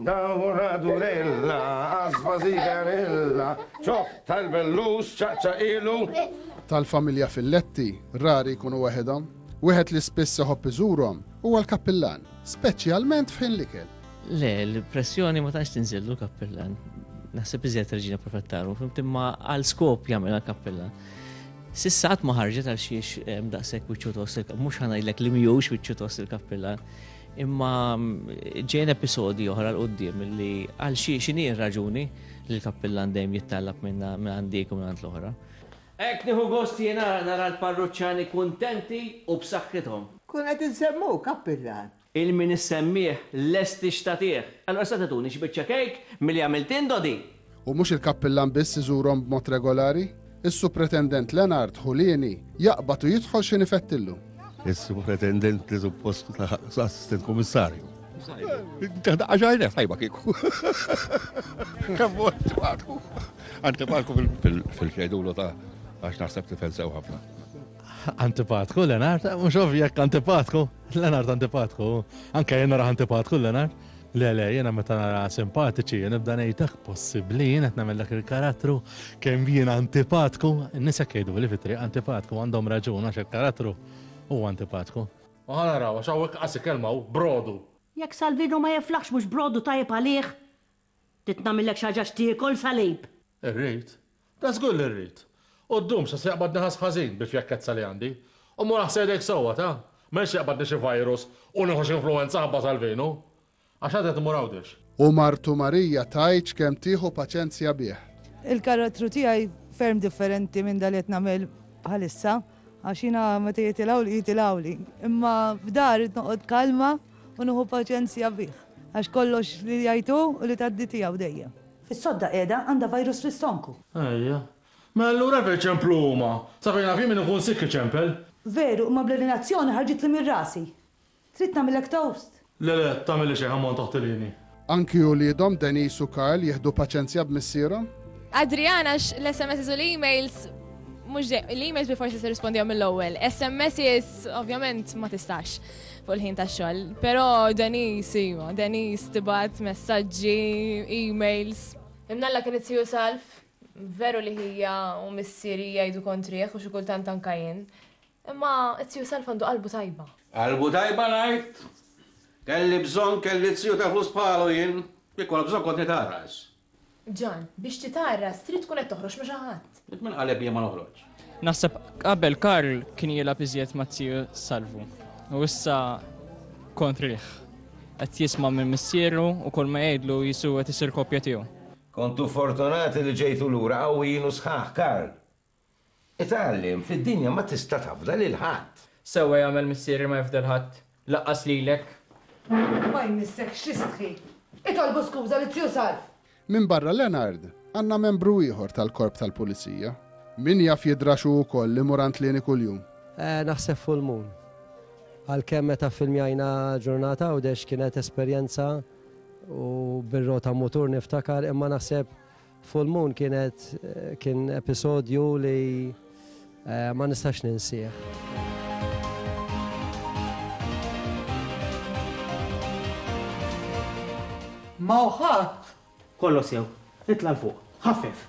Dawra durella, għasba żigarella, ċokk tal-bellus, ċaqċaqilu. Tal-familja Filletti, rari jkunu waħedhom. Wieħed li spiss iħobb iżurhom huwa l-kappillan, speċjalment f'ħin l-ikel. Le, l-pressjoni ma tantx tinżillu l-kappillan. Naħseb iżjed reġina profettaru, fimt imma għal skop jagħmel l-kappillan. Sissat ma ħarġet għal xiex daqshekk wiċċu tost, mhux ħanajlek li mhijiex wiċċu tost il-kappillan. Imma ġejn episodi oħra l-qoddim li għal xi xini raġuni li l-kappillan dejjem jittallab minn għand dik u minn għand l-oħra. Hekk nieħu gost jiena nara l-parruċċani kuntenti u b'saħħithom. Nkun qed insemmuk, kappillan. Il min issemmih lest ix-xtatih. Allura sa tituni xi biċċa kejk milli għamilt int, Dodi? U mhux il-kappillan biss iżurhom b'mod regolari? Is-Supretendent Lenard Ħulieni jaqbad u jidħol x'in ifettillu. Is-Supretendent li suppost assistent kummissarju. Taħdaqqa ġajna, tajba kiku. Kemm mort għadu. Antipatku fil-xejdulu ta' għax naħseb li fensew ħafna. Antipatku, Lenard, mux ovvjek antipatku, Lenard antipatku, anka jenna raħ antipatku, Lenard. Le, le, jena meta nara simpatiċi, jena nibda nejtak possibli, jena t-namel dak il-karattru, kem jena antipatku, nisa kejdu li fitri antipatku, għandhom raġun għax il-karattru u antipatku. Maħan naraw, għax għawek għasi kelma u brodu. Jek Salvino ma jiflaħx mux brodu tajib għalih? Titnamillek xaġa xtiekol, Salib? Irrit, Da żgur li rrid. U ddum sa se jaqbadni ħass ħażin bil-fjakkezza li għandi. U mur aħsel idejk sewwa, ta? M'għedx jaqbadni xi virus u nieħu x'influwenza ħabba tal-vinu. Għax għad qed immur Għawdex. U martu Marija tgħidx kemm tieħu paċenzja bih. Il-karattru tiegħi ferm differenti minn dak li qed nagħmel bħalissa għax jiena meta jitilgħuli jitilgħuli. Imma f'dar irrid noqgħod kalma u nieħu paċenzja bih. Għax kollox li jgħid hu u li tgħaddi tiegħu dejjem. Is-sodda qiegħda għandha virus fl-istonku. Ejja. Mela allura hekk iċemplu huma. Sa fejn naf jien min ikun sikk iċempel. Veru, imma bl-urinazzjoni ħarġitli minn rasi. Trid nagħmillek toast? Le le, tagħmilli xejn ħammont toħtilini. Anki uliedhom Denise u Karl jieħdu paċenzja b'missierhom? Adrian għax l-SMSs u l-emails mhux dejjem l-emails bilfors tista' tirrispondihom mill-ewwel. SMSs ovvjament ma tistax. fuq il-ħin ta' xogħol. Però Denis, iva, Denis tibat messaġġi, emails. Imnalla kien it-tiju salf, veru li hija u missieri jgħidu kontrieħ u xi kultant anka jien. Imma it-tiju salf għandu qalbu tajba. Qalbu tajba ngħid? Kelli bżonn kelli tiju ta' flus bħalu jien, kif kont bżonn kont nitgħarras. Ġan, biex titgħarras trid tkun qed toħroġ ma' xi ħadd. Jekk minn qaleb jien ma noħroġx. Naħseb qabel Karl kien jilgħab iżjed ma' tiju Salvu u issa kontrih. Qed jisma' minn missieru u kull ma jgħidlu Jisu qed isir kopja tiegħu. Kontu fortunati li ġejtu lura qawwijin u sħaħ, Karl! Itgħallem, fid-dinja ma tista' tafda lil ħadd. Sewwa jagħmel missieri ma jifda 'l ħadd, laqqas lilek. Ma jmissek x'istħi. Itolbu skuża lil Zju Salv. Minbarra Leonard, għandna membru ieħor tal-Korp tal-Pulizija. Min jaf jidrax hu wkoll li mur għand Lieni kuljum? Naħseb full moon. Għalkemm meta ffilmjajna Ġurnata Għawdex kienet esperjenza u bir-rota mutur niftakar imma naħseb Full Moon kienet kien episodju li eh, ma nistax ninsieħ. Ma uħat! Kollo sew, itla l-fuq, ħaffef.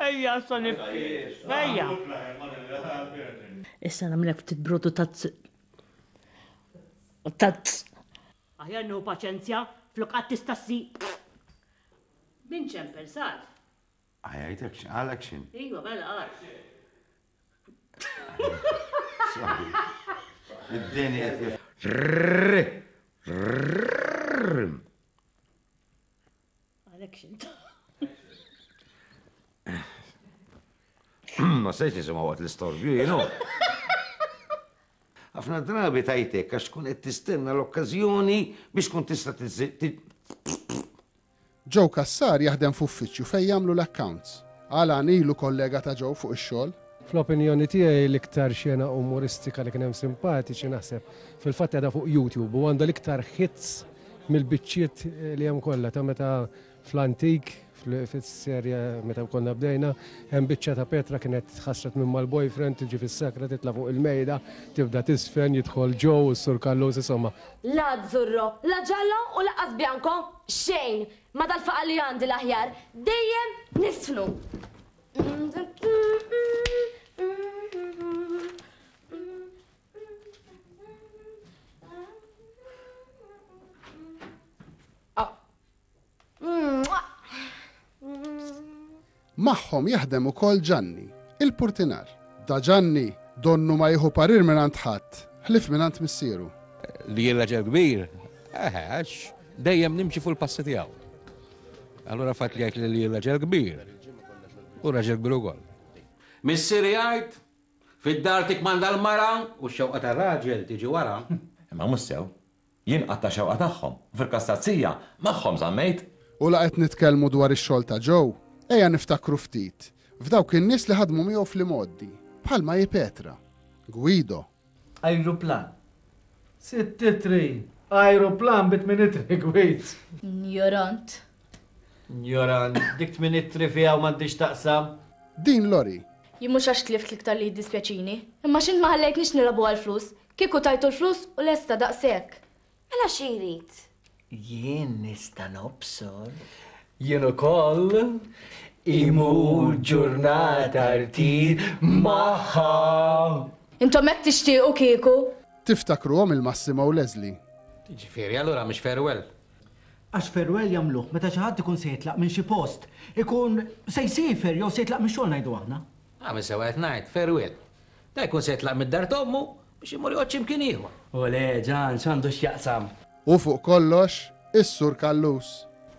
Ejja, issa nibki. Ejja. Issa nagħmlek ftit brodu tazz. Tazz. Aħjar nieħu paċenzja flok qatt tista' ssi. Min ċem pensat? Għajajtek xin, għalek xin. Iva, bella għal. Id-deni għet Għalek xint. Ma sejx nisema għat l-istorbju, jenu. Għafna drabi tajtek għax tkun qed tistenna l-okkazjoni biex tkun tista' Joe Kassar jaħdem f'uffiċċju fejn jagħmlu l-accounts. Alan ilu kollega ta' Joe fuq ix-xogħol. Fl-opinjoni tiegħi l-iktar xena umoristika li kien hemm simpatiċi naħseb fil-fatt qiegħda fuq YouTube u għandha l-iktar hits mill-biċċiet li hemm kollha ta' meta fl-antik fis-serja meta konna bdejna hemm biċċa ta' Petra kienet ħasret minn mal-boyfriend tiġi fis-sakra titla' fuq il-mejda tibda tisfen jidħol Joe u s-Sur Kallus insomma. La azzurro, la giallo u lanqas bianco, xejn! Ma dal-faqar li għandi l-aħjar, dejjem nisfnu! Magħhom jaħdem ukoll Ġanni, il-purtinar. Da Ġanni, donnu ma jieħu parir minn għand ħadd, ħlif minn għand missieru. Li jirraġel kbir, eħex, dejjem nimxi fuq il-passi tiegħu. Allura fatt jgħid li li raġel kbir u raġel kbir ukoll. Missier jgħid, Fid-dar tikkmanda l-mara u x-xewqa tar-raġel tiġi wara. Imma mhux sew. Jien qatt tax-xewqa tagħhom, u fil-każ ta' Zija, magħhom żammejt. U la qed nitkellmu dwar ix-xogħol ta' Joe, ejja niftakru ftit f'dawk in-nies li ħadmu miegħu fl-imgħoddi, bħal Maji Petra, Guido, Ajruplan. Sittitri. Ajruplan bi tminitri gwid. Njorant. Njorant. Dik tminitri fiha u m'għandhiex taqsam. Din lori. Jien mhux għax tlift l-iktar li jiddispjaċini, imma x'int ma ħallejtnix nilagħbu għall-flus. Kieku tajtu l-flus u lesta daqshekk. Mela xi jrid? Jien nista' nobsor. Jien ukoll. Imur ġurnata rtir magħha. Intom hekk tixtiequ kieku? Tiftakruhom il-Massimo u Leslie? Jiġifieri, allura mhux farewell? Għax farewell jagħmluh meta xi ħadd ikun se jitlaq minn xi post, ikun se jsiefer jew se jitlaq mix-xogħol ngħidu aħna. Agħmel sewwa qed ngħid, farewell. Dan ikun se jitlaq mid-dar t'ommu Biex imur jgħodd x'imkien ieħor. Olè, Ġan, x'għandu x'jaqsam? U fuq kollox, is-Sur Callus.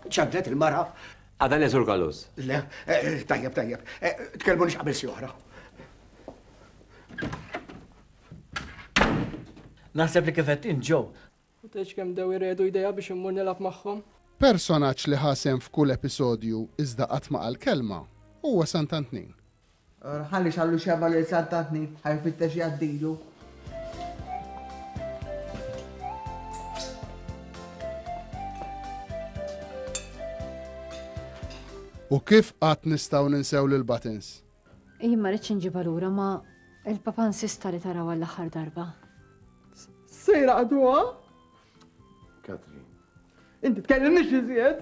Ċaddlet il-mara. Għada le, Sur Callus? Le, tajjeb, tajjeb. Tkellmunix qabel xi oħra. Naħseb li kif qed int, Joe, U tgħidx kemm bdew iredu jdejha biex immur nilgħab magħhom. Personaġġ li ħa sehem f'kull episodju iżda qatt ma qal kelma huwa Sant'Antnin. Or ħalli xallu xebgħa lil Sant'Antnin ħa jfittex jgħaddilu. U kif qatt nistgħu ninsew lil Buttons? Jien ma rridx inġibha lura ma il-papa nsista li taraw għall-aħħar darba. Sejra għaduha? Katrin. Inti tkellimniex iżjed?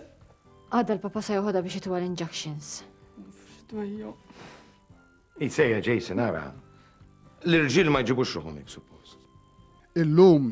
Għadda l-papa se joħodha biex itwa l-injections. F'dwejju. Isejja Jason ara. L-irġiel ma jġibux ruħhom hekk suppost. Illum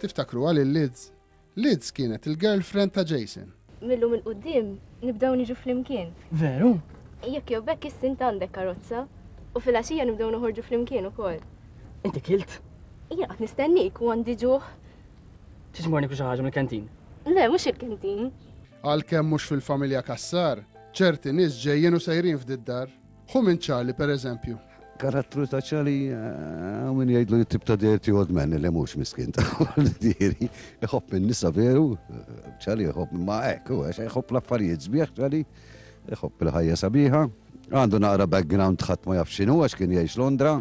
Tiftakruha lil Liz? Liz kienet il-girlfriend ta' Jason. Mil-lum il-qudiem nibdew niġu flimkien. Veru? Jekk jew bekk issi int għandek karozza u fil-għaxija nibdew noħorġu flimkien ukoll. Inti kilt? Jien qed nistennik u għandi ġuħ. Tiġmorni xi ħaġa mill-kantin? Le, mhux il-kantin. Għalkemm mhux fil-familja Kassar, ċerti nies ġejjin u sejrin f'did-dar. Hu minn Charlie, per eżempju. Karattru ta' Charlie, eh, minn jgħidlu jittib ta' dirti old man li mhux miskin ta' diri. Iħobb minn nisa veru, eh, Charlie iħobb ma' hekk, u għax iħobb l-affarijiet sbieħ Charlie, iħobb il-ħajja sabiħa. Għandu naqra background ħadd ma jaf x'inhu għax kien jgħix Londra,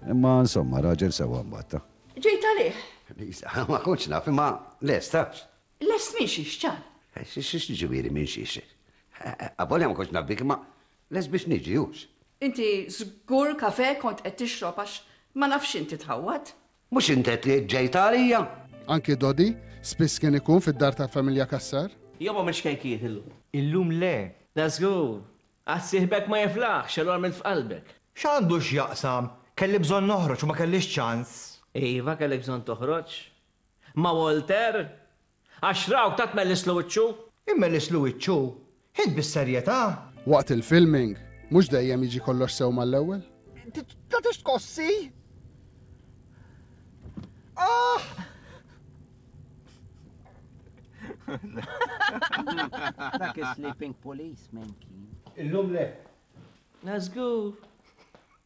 imma insomma raġel sewa mbatta. Ġejt għalih. Lisa, ma kontx naf, imma lest, tafx. Lest minn xiex, ċar. Eh, xiex ġivieri minn xiex. Avolja ma kontx naf bik, imma Lest biex niġi, hux? Inti żgur kafè kont qed tixrob għax ma nafx x'int titħawwad. Mhux int qed li ġejtha għalija? Anki Dodi spiss kien ikun fid-dar tal-familja Cassar. Jew għamiltx kejkijiet illum? Illum le. Da żgur. Għad sieħbek ma jiflaħx x'għelu għamilt f'qalbek. X'għandu x'jaqsam? Kelli bżonn noħroġ u ma kellix ċans. Iva kellek bżonn toħroġ. Ma' Walter? Għax raw ta' tmellisslu wiċċu. Immellisslu wiċċu? Int bis-serjetà? Waqt il-filming, mhux dejjem jiġi kollox sew mal-ewwel? Inti tagħtix tkossi? Aah! Dak is-sleeping policeman kien. Illum le. La żgur.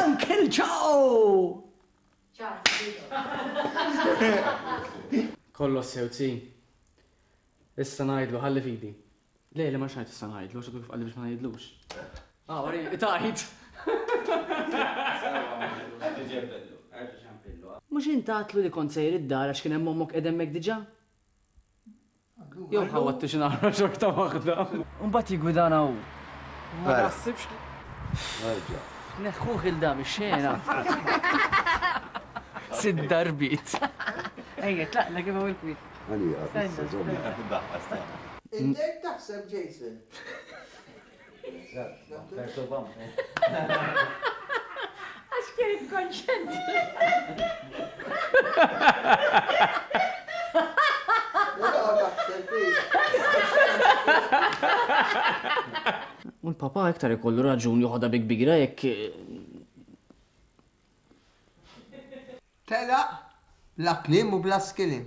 Uncle Joe! Kollox sew tsi. Issa ngħidlu ħalli fidi. Le, le ma xajt issa ngħidlu, x'għadu kif qalli biex ma ngħidlux. Ah, wari, tajt. Mhux intatlu li kont sejr id-dar għax kien hemm ommok qed hemmhekk diġà? Jew ħawattu xi naħra xorta waħda. U mbagħad jiggwidana hu. Ma naħsibx li. Nerġa'. Neħħuh il dam ix-xena. Sid darbit. Ejja, tlaqna kif hawn il-kwiet. Għalija, issa żomm. Intek taħseb Jason. Għax kien konċent. U l-papa iktar ikollu raġun joħodha bi kbira jekk. Tela, la klim u bla skilim.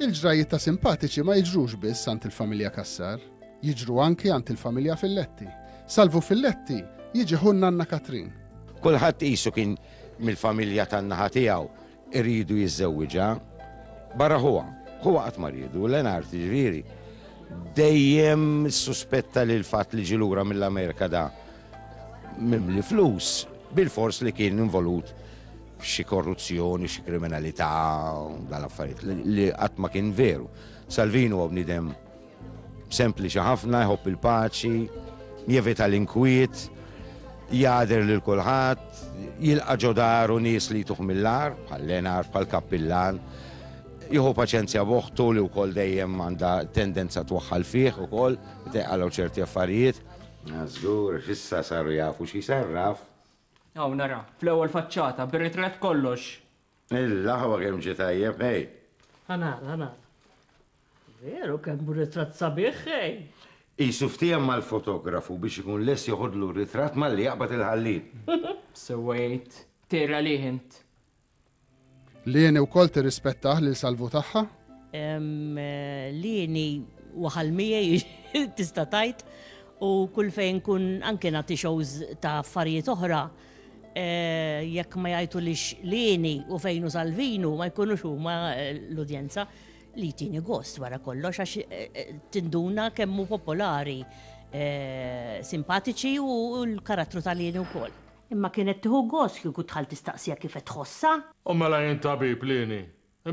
Il-ġrajjiet ta' simpatiċi ma jiġrux biss għand il-familja Cassar, jiġru anki għand il-familja Filletti. Salvu Filletti jiġi ħu n-nanna Katrin. Kulħadd qisu kien mill-familja tan-naħa tiegħu iridu jiżżewwiġha. Barra ħuha, ħuha qatt ma riedu, Lenart ġifieri. Dejjem suspetta li l-fatt li ġi lura mill-Amerika da mimli flus bil-fors li kien involut xi korruzzjoni, xi kriminalità, dan affarijiet li qatt ma kien veru. Salvini huwa bniedem sempliċi ħafna, jħobb il-paċi, jevita l-inkwiet, jader lil kulħadd, jilqa' ġodaru nies li jtuħ mill-ar, bħal Lenar, bħal Kappillan, jieħu paċenzja boħtu li wkoll dejjem għandha tendenza twaħħal fih ukoll, teqalgħu ċerti affarijiet. Żgur, fissa saru jafu xi sarraf, Hawn ara, fl-ewwel faċċata, bir-ritratt kollox. Il-laħwa kemm ġie tajjeb, ħej! Ħa nara, ħa nara. Veru kemm hu ritratt sabiħ, ħej! Qisu ftiehem mal-fotografu biex ikun lest joħodlu r-ritratt malli jaqbad il-ħallieq. Sewwejt. Tgħir għalih int. Lieni wkoll tirrispettah lil Salvu tagħha? Lieni waħal miegħi tista' tgħid u kull fejn kun anke nagħti shows ta' affarijiet oħra Eh, jekk ma jajtu li xlini u fejnu salvinu ma jkunux huma eh, l-udjenza li tini gost wara kollox għax eh, tinduna kemmu popolari simpatiċi u l-karattru tal-jeni u koll. Imma kienet tieħu gost kieku d-dħal tistaqsiha kif qed tħossha. U mela jien tabib li inhi,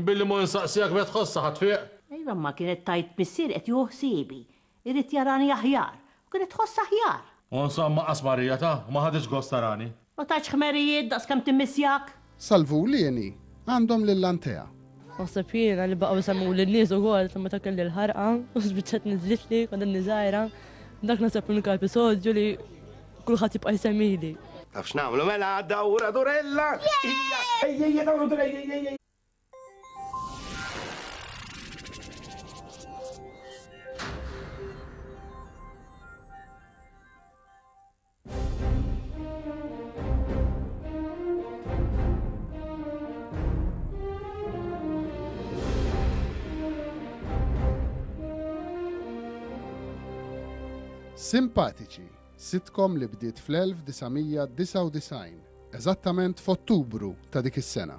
billi mhu insaqsiha kif qed tħossha ħa tfieq? Iva, imma kienet tgħid missieri qed jieħu ħsiebi, irid jarani aħjar, u kienet tħossha aħjar. U insomma qasmarija ta', ma ħaditx gost tarani. Ma tatx ħmerijiet daqskemm timmissjak? Sal-Vulieni għandhom lil Antea. Naħseb jiena li baqgħu jsemmuli n-nies ukoll sa meta kelli l-ħarqa u spiċċat niżlitli kont inni żgħira. Dak naħseb l-unika episodju li kulħadd jibqa' jsemmili. Taf x'nagħmlu mela għadda ura durella! Ejja, dawru durella! Simpatiċi, sitkom li bdiet fl-1999, eżattament f'Ottubru ta' dik is-sena.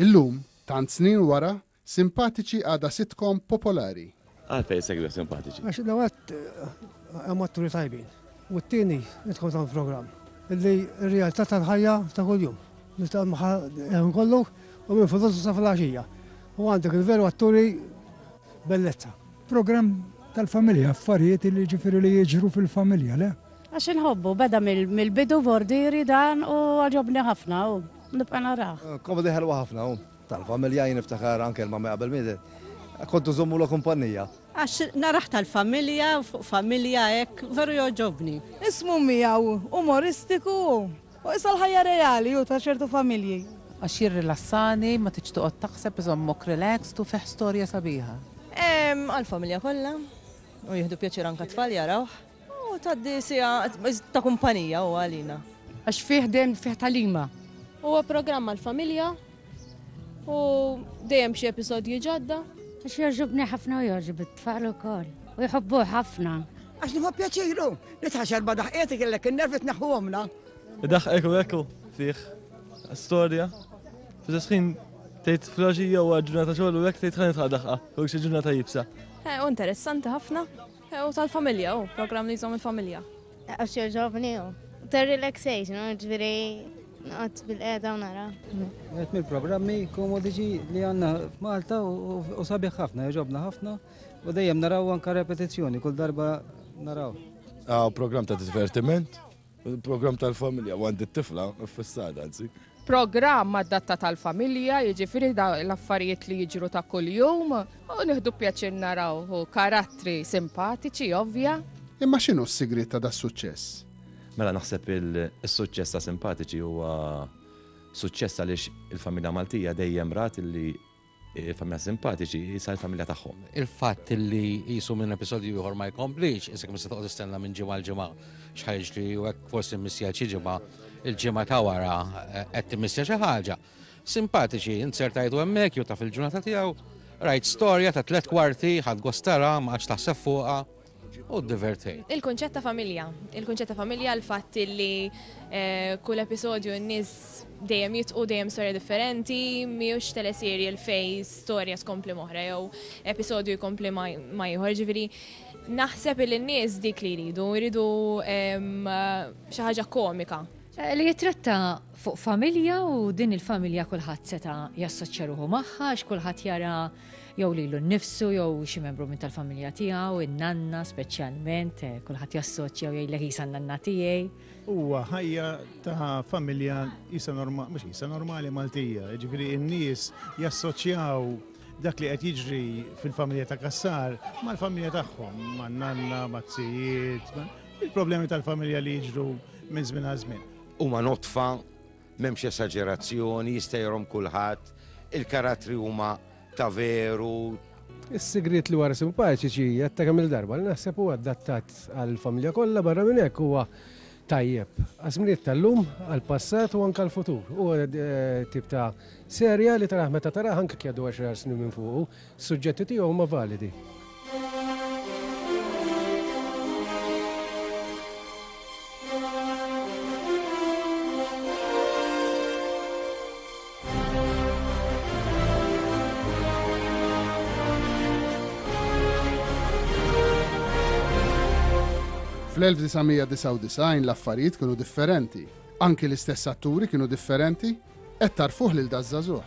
Illum, tant snin wara, Simpatiċi għadha sitcom popolari. Għalfejn segwi Simpatiċi? Għax dawat hemm atturi tajbin. U t-tieni nidħol ta' programm li r-realtà tal-ħajja ta' kuljum. Nitgħalmu kollu u minn fuq sa fil-għaxija. U għandek il-veru atturi Bellezza. Programm tal-familja, affarijiet li jiġifieri li jiġru fil-familja, le? Għax inħobbu, beda mill-bidu bordieri dan u għaġobni ħafna u nibqa' narah. Komedi ħelwa ħafna u tal-familja jien niftakar anke l-mammi qabel mietet kontu żommulha kumpannija. Għax narah tal-familja u fuq familja hekk veru jogħġobni. Ismu miegħu umoristiku u U issa l-ħajja reali hu ta' ċertu familji. Għax jirrilassani, ma tridx toqgħod taħseb, iżommok relaxed u fih storja sabiħa. Għall-familja kollha, u jieħdu pjaċir anke t-tfal jarawh. U tgħaddi siegħa ta' kumpanija huwa għalina. Għax fih dejjem fih tagħlima. Huwa programm għall-familja. U dejjem xi episodji ġodda. Għax jogħġobni ħafna u jogħġob it-tfal ukoll. U jħobbu ħafna. Għax nħobb pjaċiru li tħaxar ba daħqietik illek in-nervi tneħħu għomna. Daħqek u ekku fih storja. Fis-sħin tgħid flaġija u ġurnata xogħol u hekk tgħid ħanet ħadaħqa u xi ġurnata jibsa. Eh, u interessanti ħafna. U tal-familja, u program li jżom il-familja. Għax joġobni, u. Ter relaxation, u ġviri, għat bil-qeda u nara. Għet mil programmi komodiċi li għanna f'Malta u sabiħ ħafna, joġobna ħafna, u dejjem naraw anka repetizzjoni, kull darba naraw. Għaw program ta' divertiment, Il-programm tal-familja u għandi t-tifla fissada, anzi. Programm għad-datta tal-familja, jiġifieri l-affarijiet li jiġru ta' kuljum u nieħdu pjaċir naraw u karattri simpatiċi ovvja. Imma x'inhu s-sigriet ta' das-suċċess? Mela naħseb il-suċċess ta' simpatiċi huwa suċċess għaliex il-familja Maltija dejjem rat li familja simpatiċi, jisa l-familja tagħhom. Il-fatt li jisu minn episodju ieħor ma jkomplix, isek mis toqgħod istenna minn ġimgħa l-ġimgħa xħajġ li u hekk forsi missija xi ġimgħa il-ġimgħa ta' wara eh, qed timissja xi ħaġa. Simpatiċi, insertajtu hemmhekk jew taf il-ġurnata tiegħu, rajt storja ta' tliet kwarti, ħadd gostara, ma għadx taħseb fuqha. u divertej. Il-kunċett ta' familja. Il-kunċett ta' familja l-fatt li eh, kull episodju n-nies dejjem jitqu dejjem storja differenti, miux teleseri l-fej storja skompli moħra jew episodju jkompli ma jħor ġifieri. Naħseb li n-nies dik li jridu, jridu ehm, xi ħaġa komika. Eh, li jitratta fuq familja u din il-familja kulħadd seta' jassoċċja ruħu magħha, x'kulħadd jara jew lilu nnifsu jew xi membru minn tal-familja tiegħu, in-nanna speċjalment, eh, kulħadd jassoċja jew jgħidlek isa nanna tiegħi. Huwa ħajja ta' familja isa normali, mhux isa normali Maltija, jiġifieri n-nies jassoċjaw dak li qed jiġri fil-familja ta' Kassar mal-familja tagħhom, man-nanna, mat-tijiet, il-problemi tal-familja li jiġru minn żmien għal żmien. Huma notfa M'hemmx esaġerazzjoni, jista' jgħorhom kulħadd, il-karattri huma ta' veru. Is-sigriet li wara simpaċiċi għedta kemm-il darba li naħseb huwa adattat għall-familja kollha barra minn hekk huwa tajjeb għaż-żminijiet tal-lum, għall-passat u anke għall-futur. Huwa tip ta' serje li tarah meta tarah anke jekk jgħaddu għaxar snin minn fuqu. Suġġetti tiegħu huma validi. Fl-1999 l-affarijiet kienu differenti. Anki l-istess atturi kienu differenti, qed tarfuh lil daż-żagħżugħ.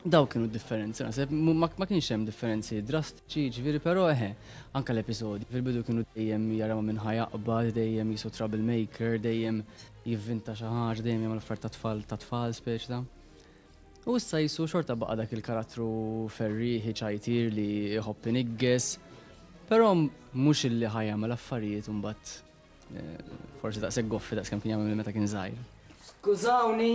Daw kienu differenzi, naħseb, ma kienx hemm differenzi drastiċi, ġviri, però eħe, anka l-episodi, fil-bidu kienu dejjem jaraw minn ħajaqba, dejjem jisu troublemaker, dejjem jivvinta xi ħaġa, dejjem jagħmel affar ta' tfal ta' tfal speċ ta'. U issa jisu xorta baqa' dak il-karattru ferri ħiċajtir li jħobb inigges, però mhux illi ħajjagħmel affarijiet imbagħad eh, forsi daqshekk goffi daqskemm kien jagħmel meta kien żgħir. Skużawni,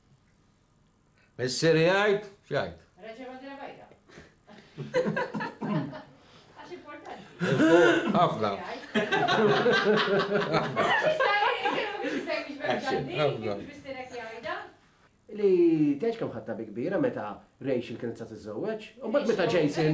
Missieri jgħid, x'jgħid? Reġa' bandira bajda. Għax importanti. Ħafna. Li teġ kam ħatta bi kbira meta Rachel kienet sa tiżżewweġ, u mbagħad meta Jason.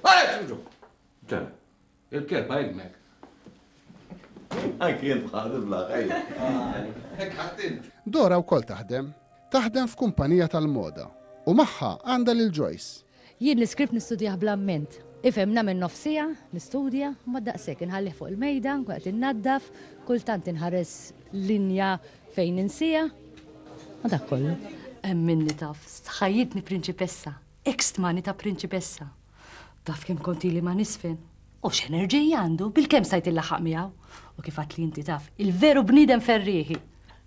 Għalek ġuġu! Ġan, il-kelba ilmek. Anki jent bħal il-blaħ, ejja. Dora wkoll taħdem, taħdem f'kumpanija tal-moda u magħha għandha lil Joyce. Jien l-iskript nistudjah bl-amment. Ifhem nagħmel nofsija, nistudja, ma daqshekk inħallih fuq il-mejda, nkun qed innaddaf, kultant inħares linja fejn insija. Ma dak kollu. Hemm minni taf, ħajjitni prinċipessa. Hekk stmani ta' prinċipessa. Taf kemm kont ili ma nisfen? U x'enerġija għandu, bilkemm stajt illaħħaq miegħu. U kif għad li inti taf, il-veru bniedem ferrieħi.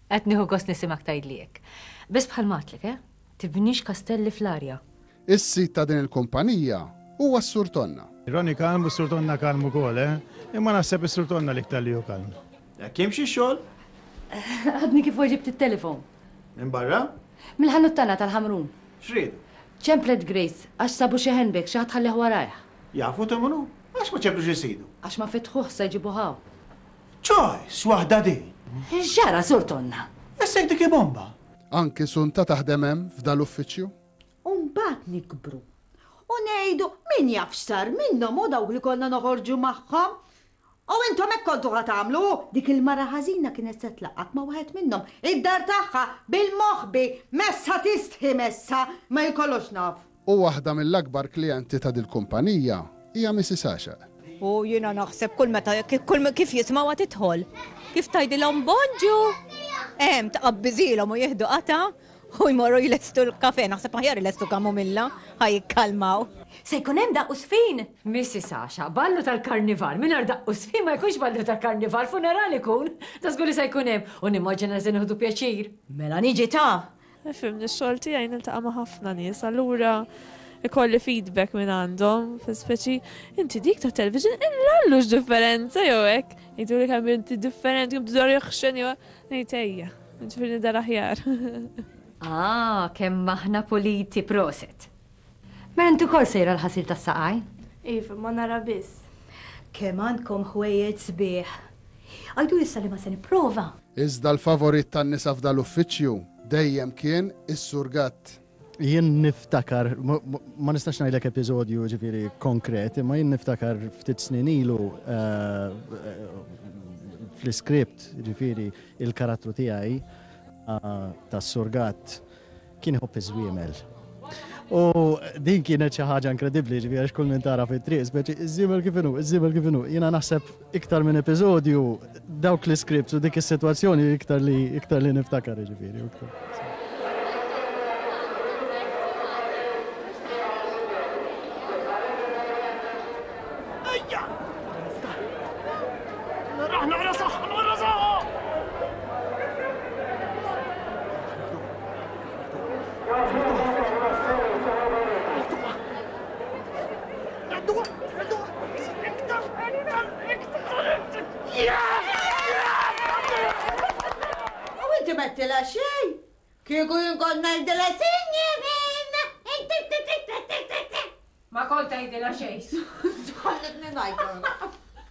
Qed nieħu gost nisimgħek tgħidli hekk. Biss bħal m'għadtlek, eh? Tibniex kastelli fl-arja. Is-sid ta' din il-kumpanija huwa s-Sur Tonna. Ronnie kalm u s-Sur Tonna kalm ukoll, eh? Imma naħseb is-Sur Tonna l-iktar li hu kalm. Hekk jimxi x-xogħol? Għadni kif weġibt it-telefon. Minn barra? Mill-ħanut tagħna tal-ħamrun. Frid. Ċemplet Grace, Għax sabu xi handbag, xi ħadd ħalleh warajh. Jafu ta' minu? Għax ma ċemplux is-sidu? Għax ma fetħuh, sa jġibuh hawn. Choice waħda din! X'ġara, Sur Tonna? Essek dik bomba! Anki Sunta taħdem hemm f'dan l-uffiċċju? U mbagħad nikbru. U ngħidu min jaf x'sar minnhom u dawk li konna noħorġu magħhom. U intom hekk kontu ħa tagħmlu! Dik il-mara ħażina kienet se tlaqqgħek ma' waħed minnhom, id-dar tagħha, bil-moħbi! Messha tistħi, messha! Ma hi kollox naf! U waħda mill-akbar klijenti ta' dil-kumpanija hija Missis Għaxaq. U jiena naħseb kull meta, kull kif jismgħuha tidħol, kif tgħidilhom Bonġu! Hemm, tqabbiżilhom u jieħdu qatgħa U jmorru jlestu l-kafè, naħseb aħjar ilestu kamomilla, ħa jikkalmaw. Se jkun hemm daqqu sfin? Missi Sasha, ballu tal-karnival mingħajr daqqu sfin ma jkunx ballu ta' karnival, funeral ikun. Da żgur li se jkun hemm u nimmaġina li se nieħdu pjaċir. Mela niġi ta! Fimni, x-xogħol tiegħi niltaqa' ma' ħafna nies, allura ikolli feedback minn għandhom, speċi inti dik ta' television illallu x'differenza jew hekk. Jgħiduli kemm inti differenti, kemm tidher jaħxen jew ngħid ejja. Ġifir nidher aħjar. Ah, kemm aħna puliti proset. Mela inti wkoll sejra l-ħasil tas-saqaj? Iva, ma nara biss. Kemm għandkom ħwejjeġ sbieħ. Għidu issa li ma se nipprova. Iżda l-favorit tan-nisa f'dal-uffiċċju dejjem kien is-Sur Gatt. Jien niftakar, ma nistax ngħidlek episodju ġifieri konkret, imma jien niftakar ftit snin ilu fl-iskript ġifieri il-karattru tiegħi tas-surgat kien iħobb iż-żwiemel. U din kienet xi ħaġa inkredibbli ġifieri għax kull min tara fit-triq, iż-żiemel kif inhu, iż-żiemel kif inhu, jiena naħseb Iktar minn episodju, dawk l-iskripts u dik is-sitwazzjoni iktar li iktar li niftakar jiġifieri. U inti mettilha xejn? Kieku jien kont ngħidilha sinjorina! Ma kont tgħidilha xejn. Ħallitni ngħid.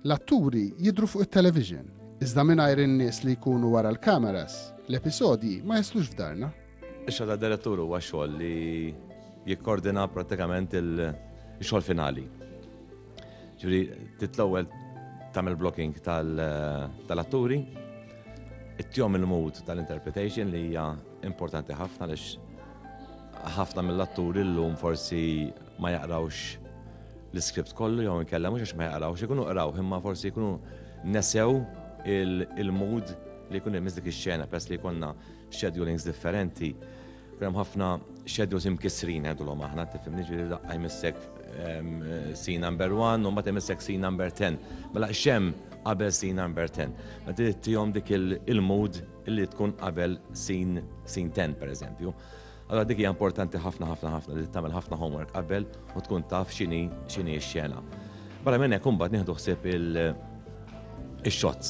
L-atturi jidhru fuq it-television, iżda mingħajr in-nies li jkunu wara l-kameras, l-episodji ma jaslux f'darna. Ix-xogħol tad-direttur huwa xogħol li jikkordina prattikament il-xogħol finali. Ġifieri trid l-ewwel tagħmel blocking tal-atturi, ittihom il-mood tal-interpretation li hija importanti ħafna għaliex ħafna mill-atturi llum forsi ma jaqrawx l-iskript kollu jew inkella mhux għax ma jaqrawx, ikunu qrawh imma forsi jkunu nesew il-mood li jkun hemm dik ix-xena peress li jkollna schedulings differenti. Hemm ħafna schedules imkissrin għedulhom aħna, tifhimni ġifieri daqqa jmissek scene number 1 u mbagħad imissek scene number 10. Mela xem qabel scene number 10. Ma trid tihom dik il-mood li tkun qabel scene 10 pereżempju. Allora dik hija importanti ħafna ħafna ħafna li tagħmel ħafna homework qabel u tkun taf x'inhi x'inhi x-xena. Barra minn hekk imbagħad nieħdu ħsieb il-shots.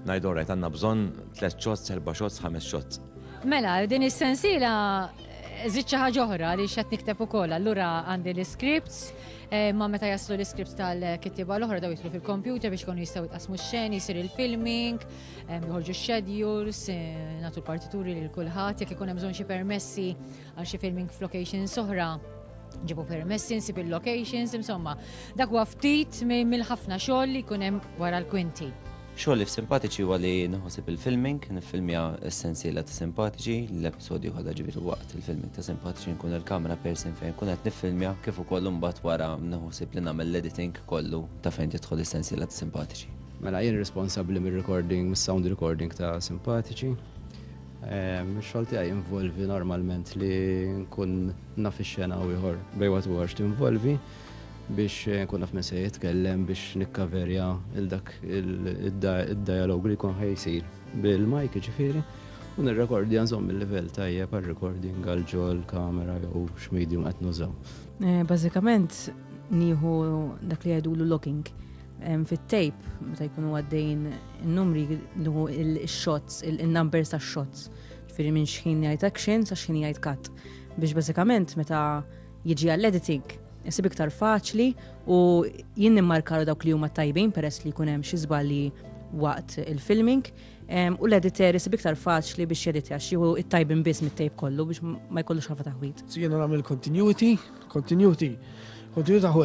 Ngħidu rajt għandna bżonn tliet shots, erba' shots, ħames shots. Mela, din is-sensiela Zid xi ħaġa oħra li xed nikteb ukoll, allura għandi l-scripts, eh, ma meta jaslu l-scripts tal-kittiba l-oħra daw jitlu fil-kompjuter biex konu jistgħu jitqasmu x-xeni, jsir il-filming, Joħorġu schedules, eh, natu l-partituri lil kulħadd, jekk ikun hemm bżonn xi permessi għal xi filming f'locations oħra, ġibu permessi nsib il-locations, insomma, dak huwa ftit mill-ħafna xogħol li jkun hemm wara l-kwinti. Xogħol li f'simpatiċi huwa li nħosib il-filming, nifilmja essenzjela ta' simpatiċi, l-episodju kollha ġifieri waqt il-filming ta' simpatiċi nkun il-kamera persin fejn kun qed nifilmja kif ukoll imbagħad wara nħosib li nagħmel l-editing kollu ta' fejn tidħol essenzjela ta' simpatiċi. Mela jien responsabbli mir-recording, mis-sound recording ta' simpatiċi. Ehm, Xogħol tiegħi involvi normalment li nkun naf ix-xena u ieħor bej waqt ieħor x'tinvolvi biex eh, nkun naf minn se jitkellem biex nikkaverja il dak id-dialog li jkun ħejsir bil-mike ġifieri u nirrekordja nżomm il-livell tajjeb għal recording għal ġol kamera jew x'medium qed nużaw. Eh, bażikament nieħu dak li jgħidulu locking fit-tejp meta jkunu għaddejn in-numri nuhu il-shots, il-numbers ta' shots. Ġifieri minn xħin jgħid action sa xħin jgħid cut. Biex bażikament meta jiġi għall-editing isib iktar faċli u jien nimmarkaru dawk li huma tajbin peress li jkun hemm xi żbalji waqt il-filming u l-editor isib iktar faċli biex jeditja xieħu it-tajbin biss mit-tejp kollu biex ma jkollux ħafa taħwit. Jiena nagħmel continuity, continuity, continuity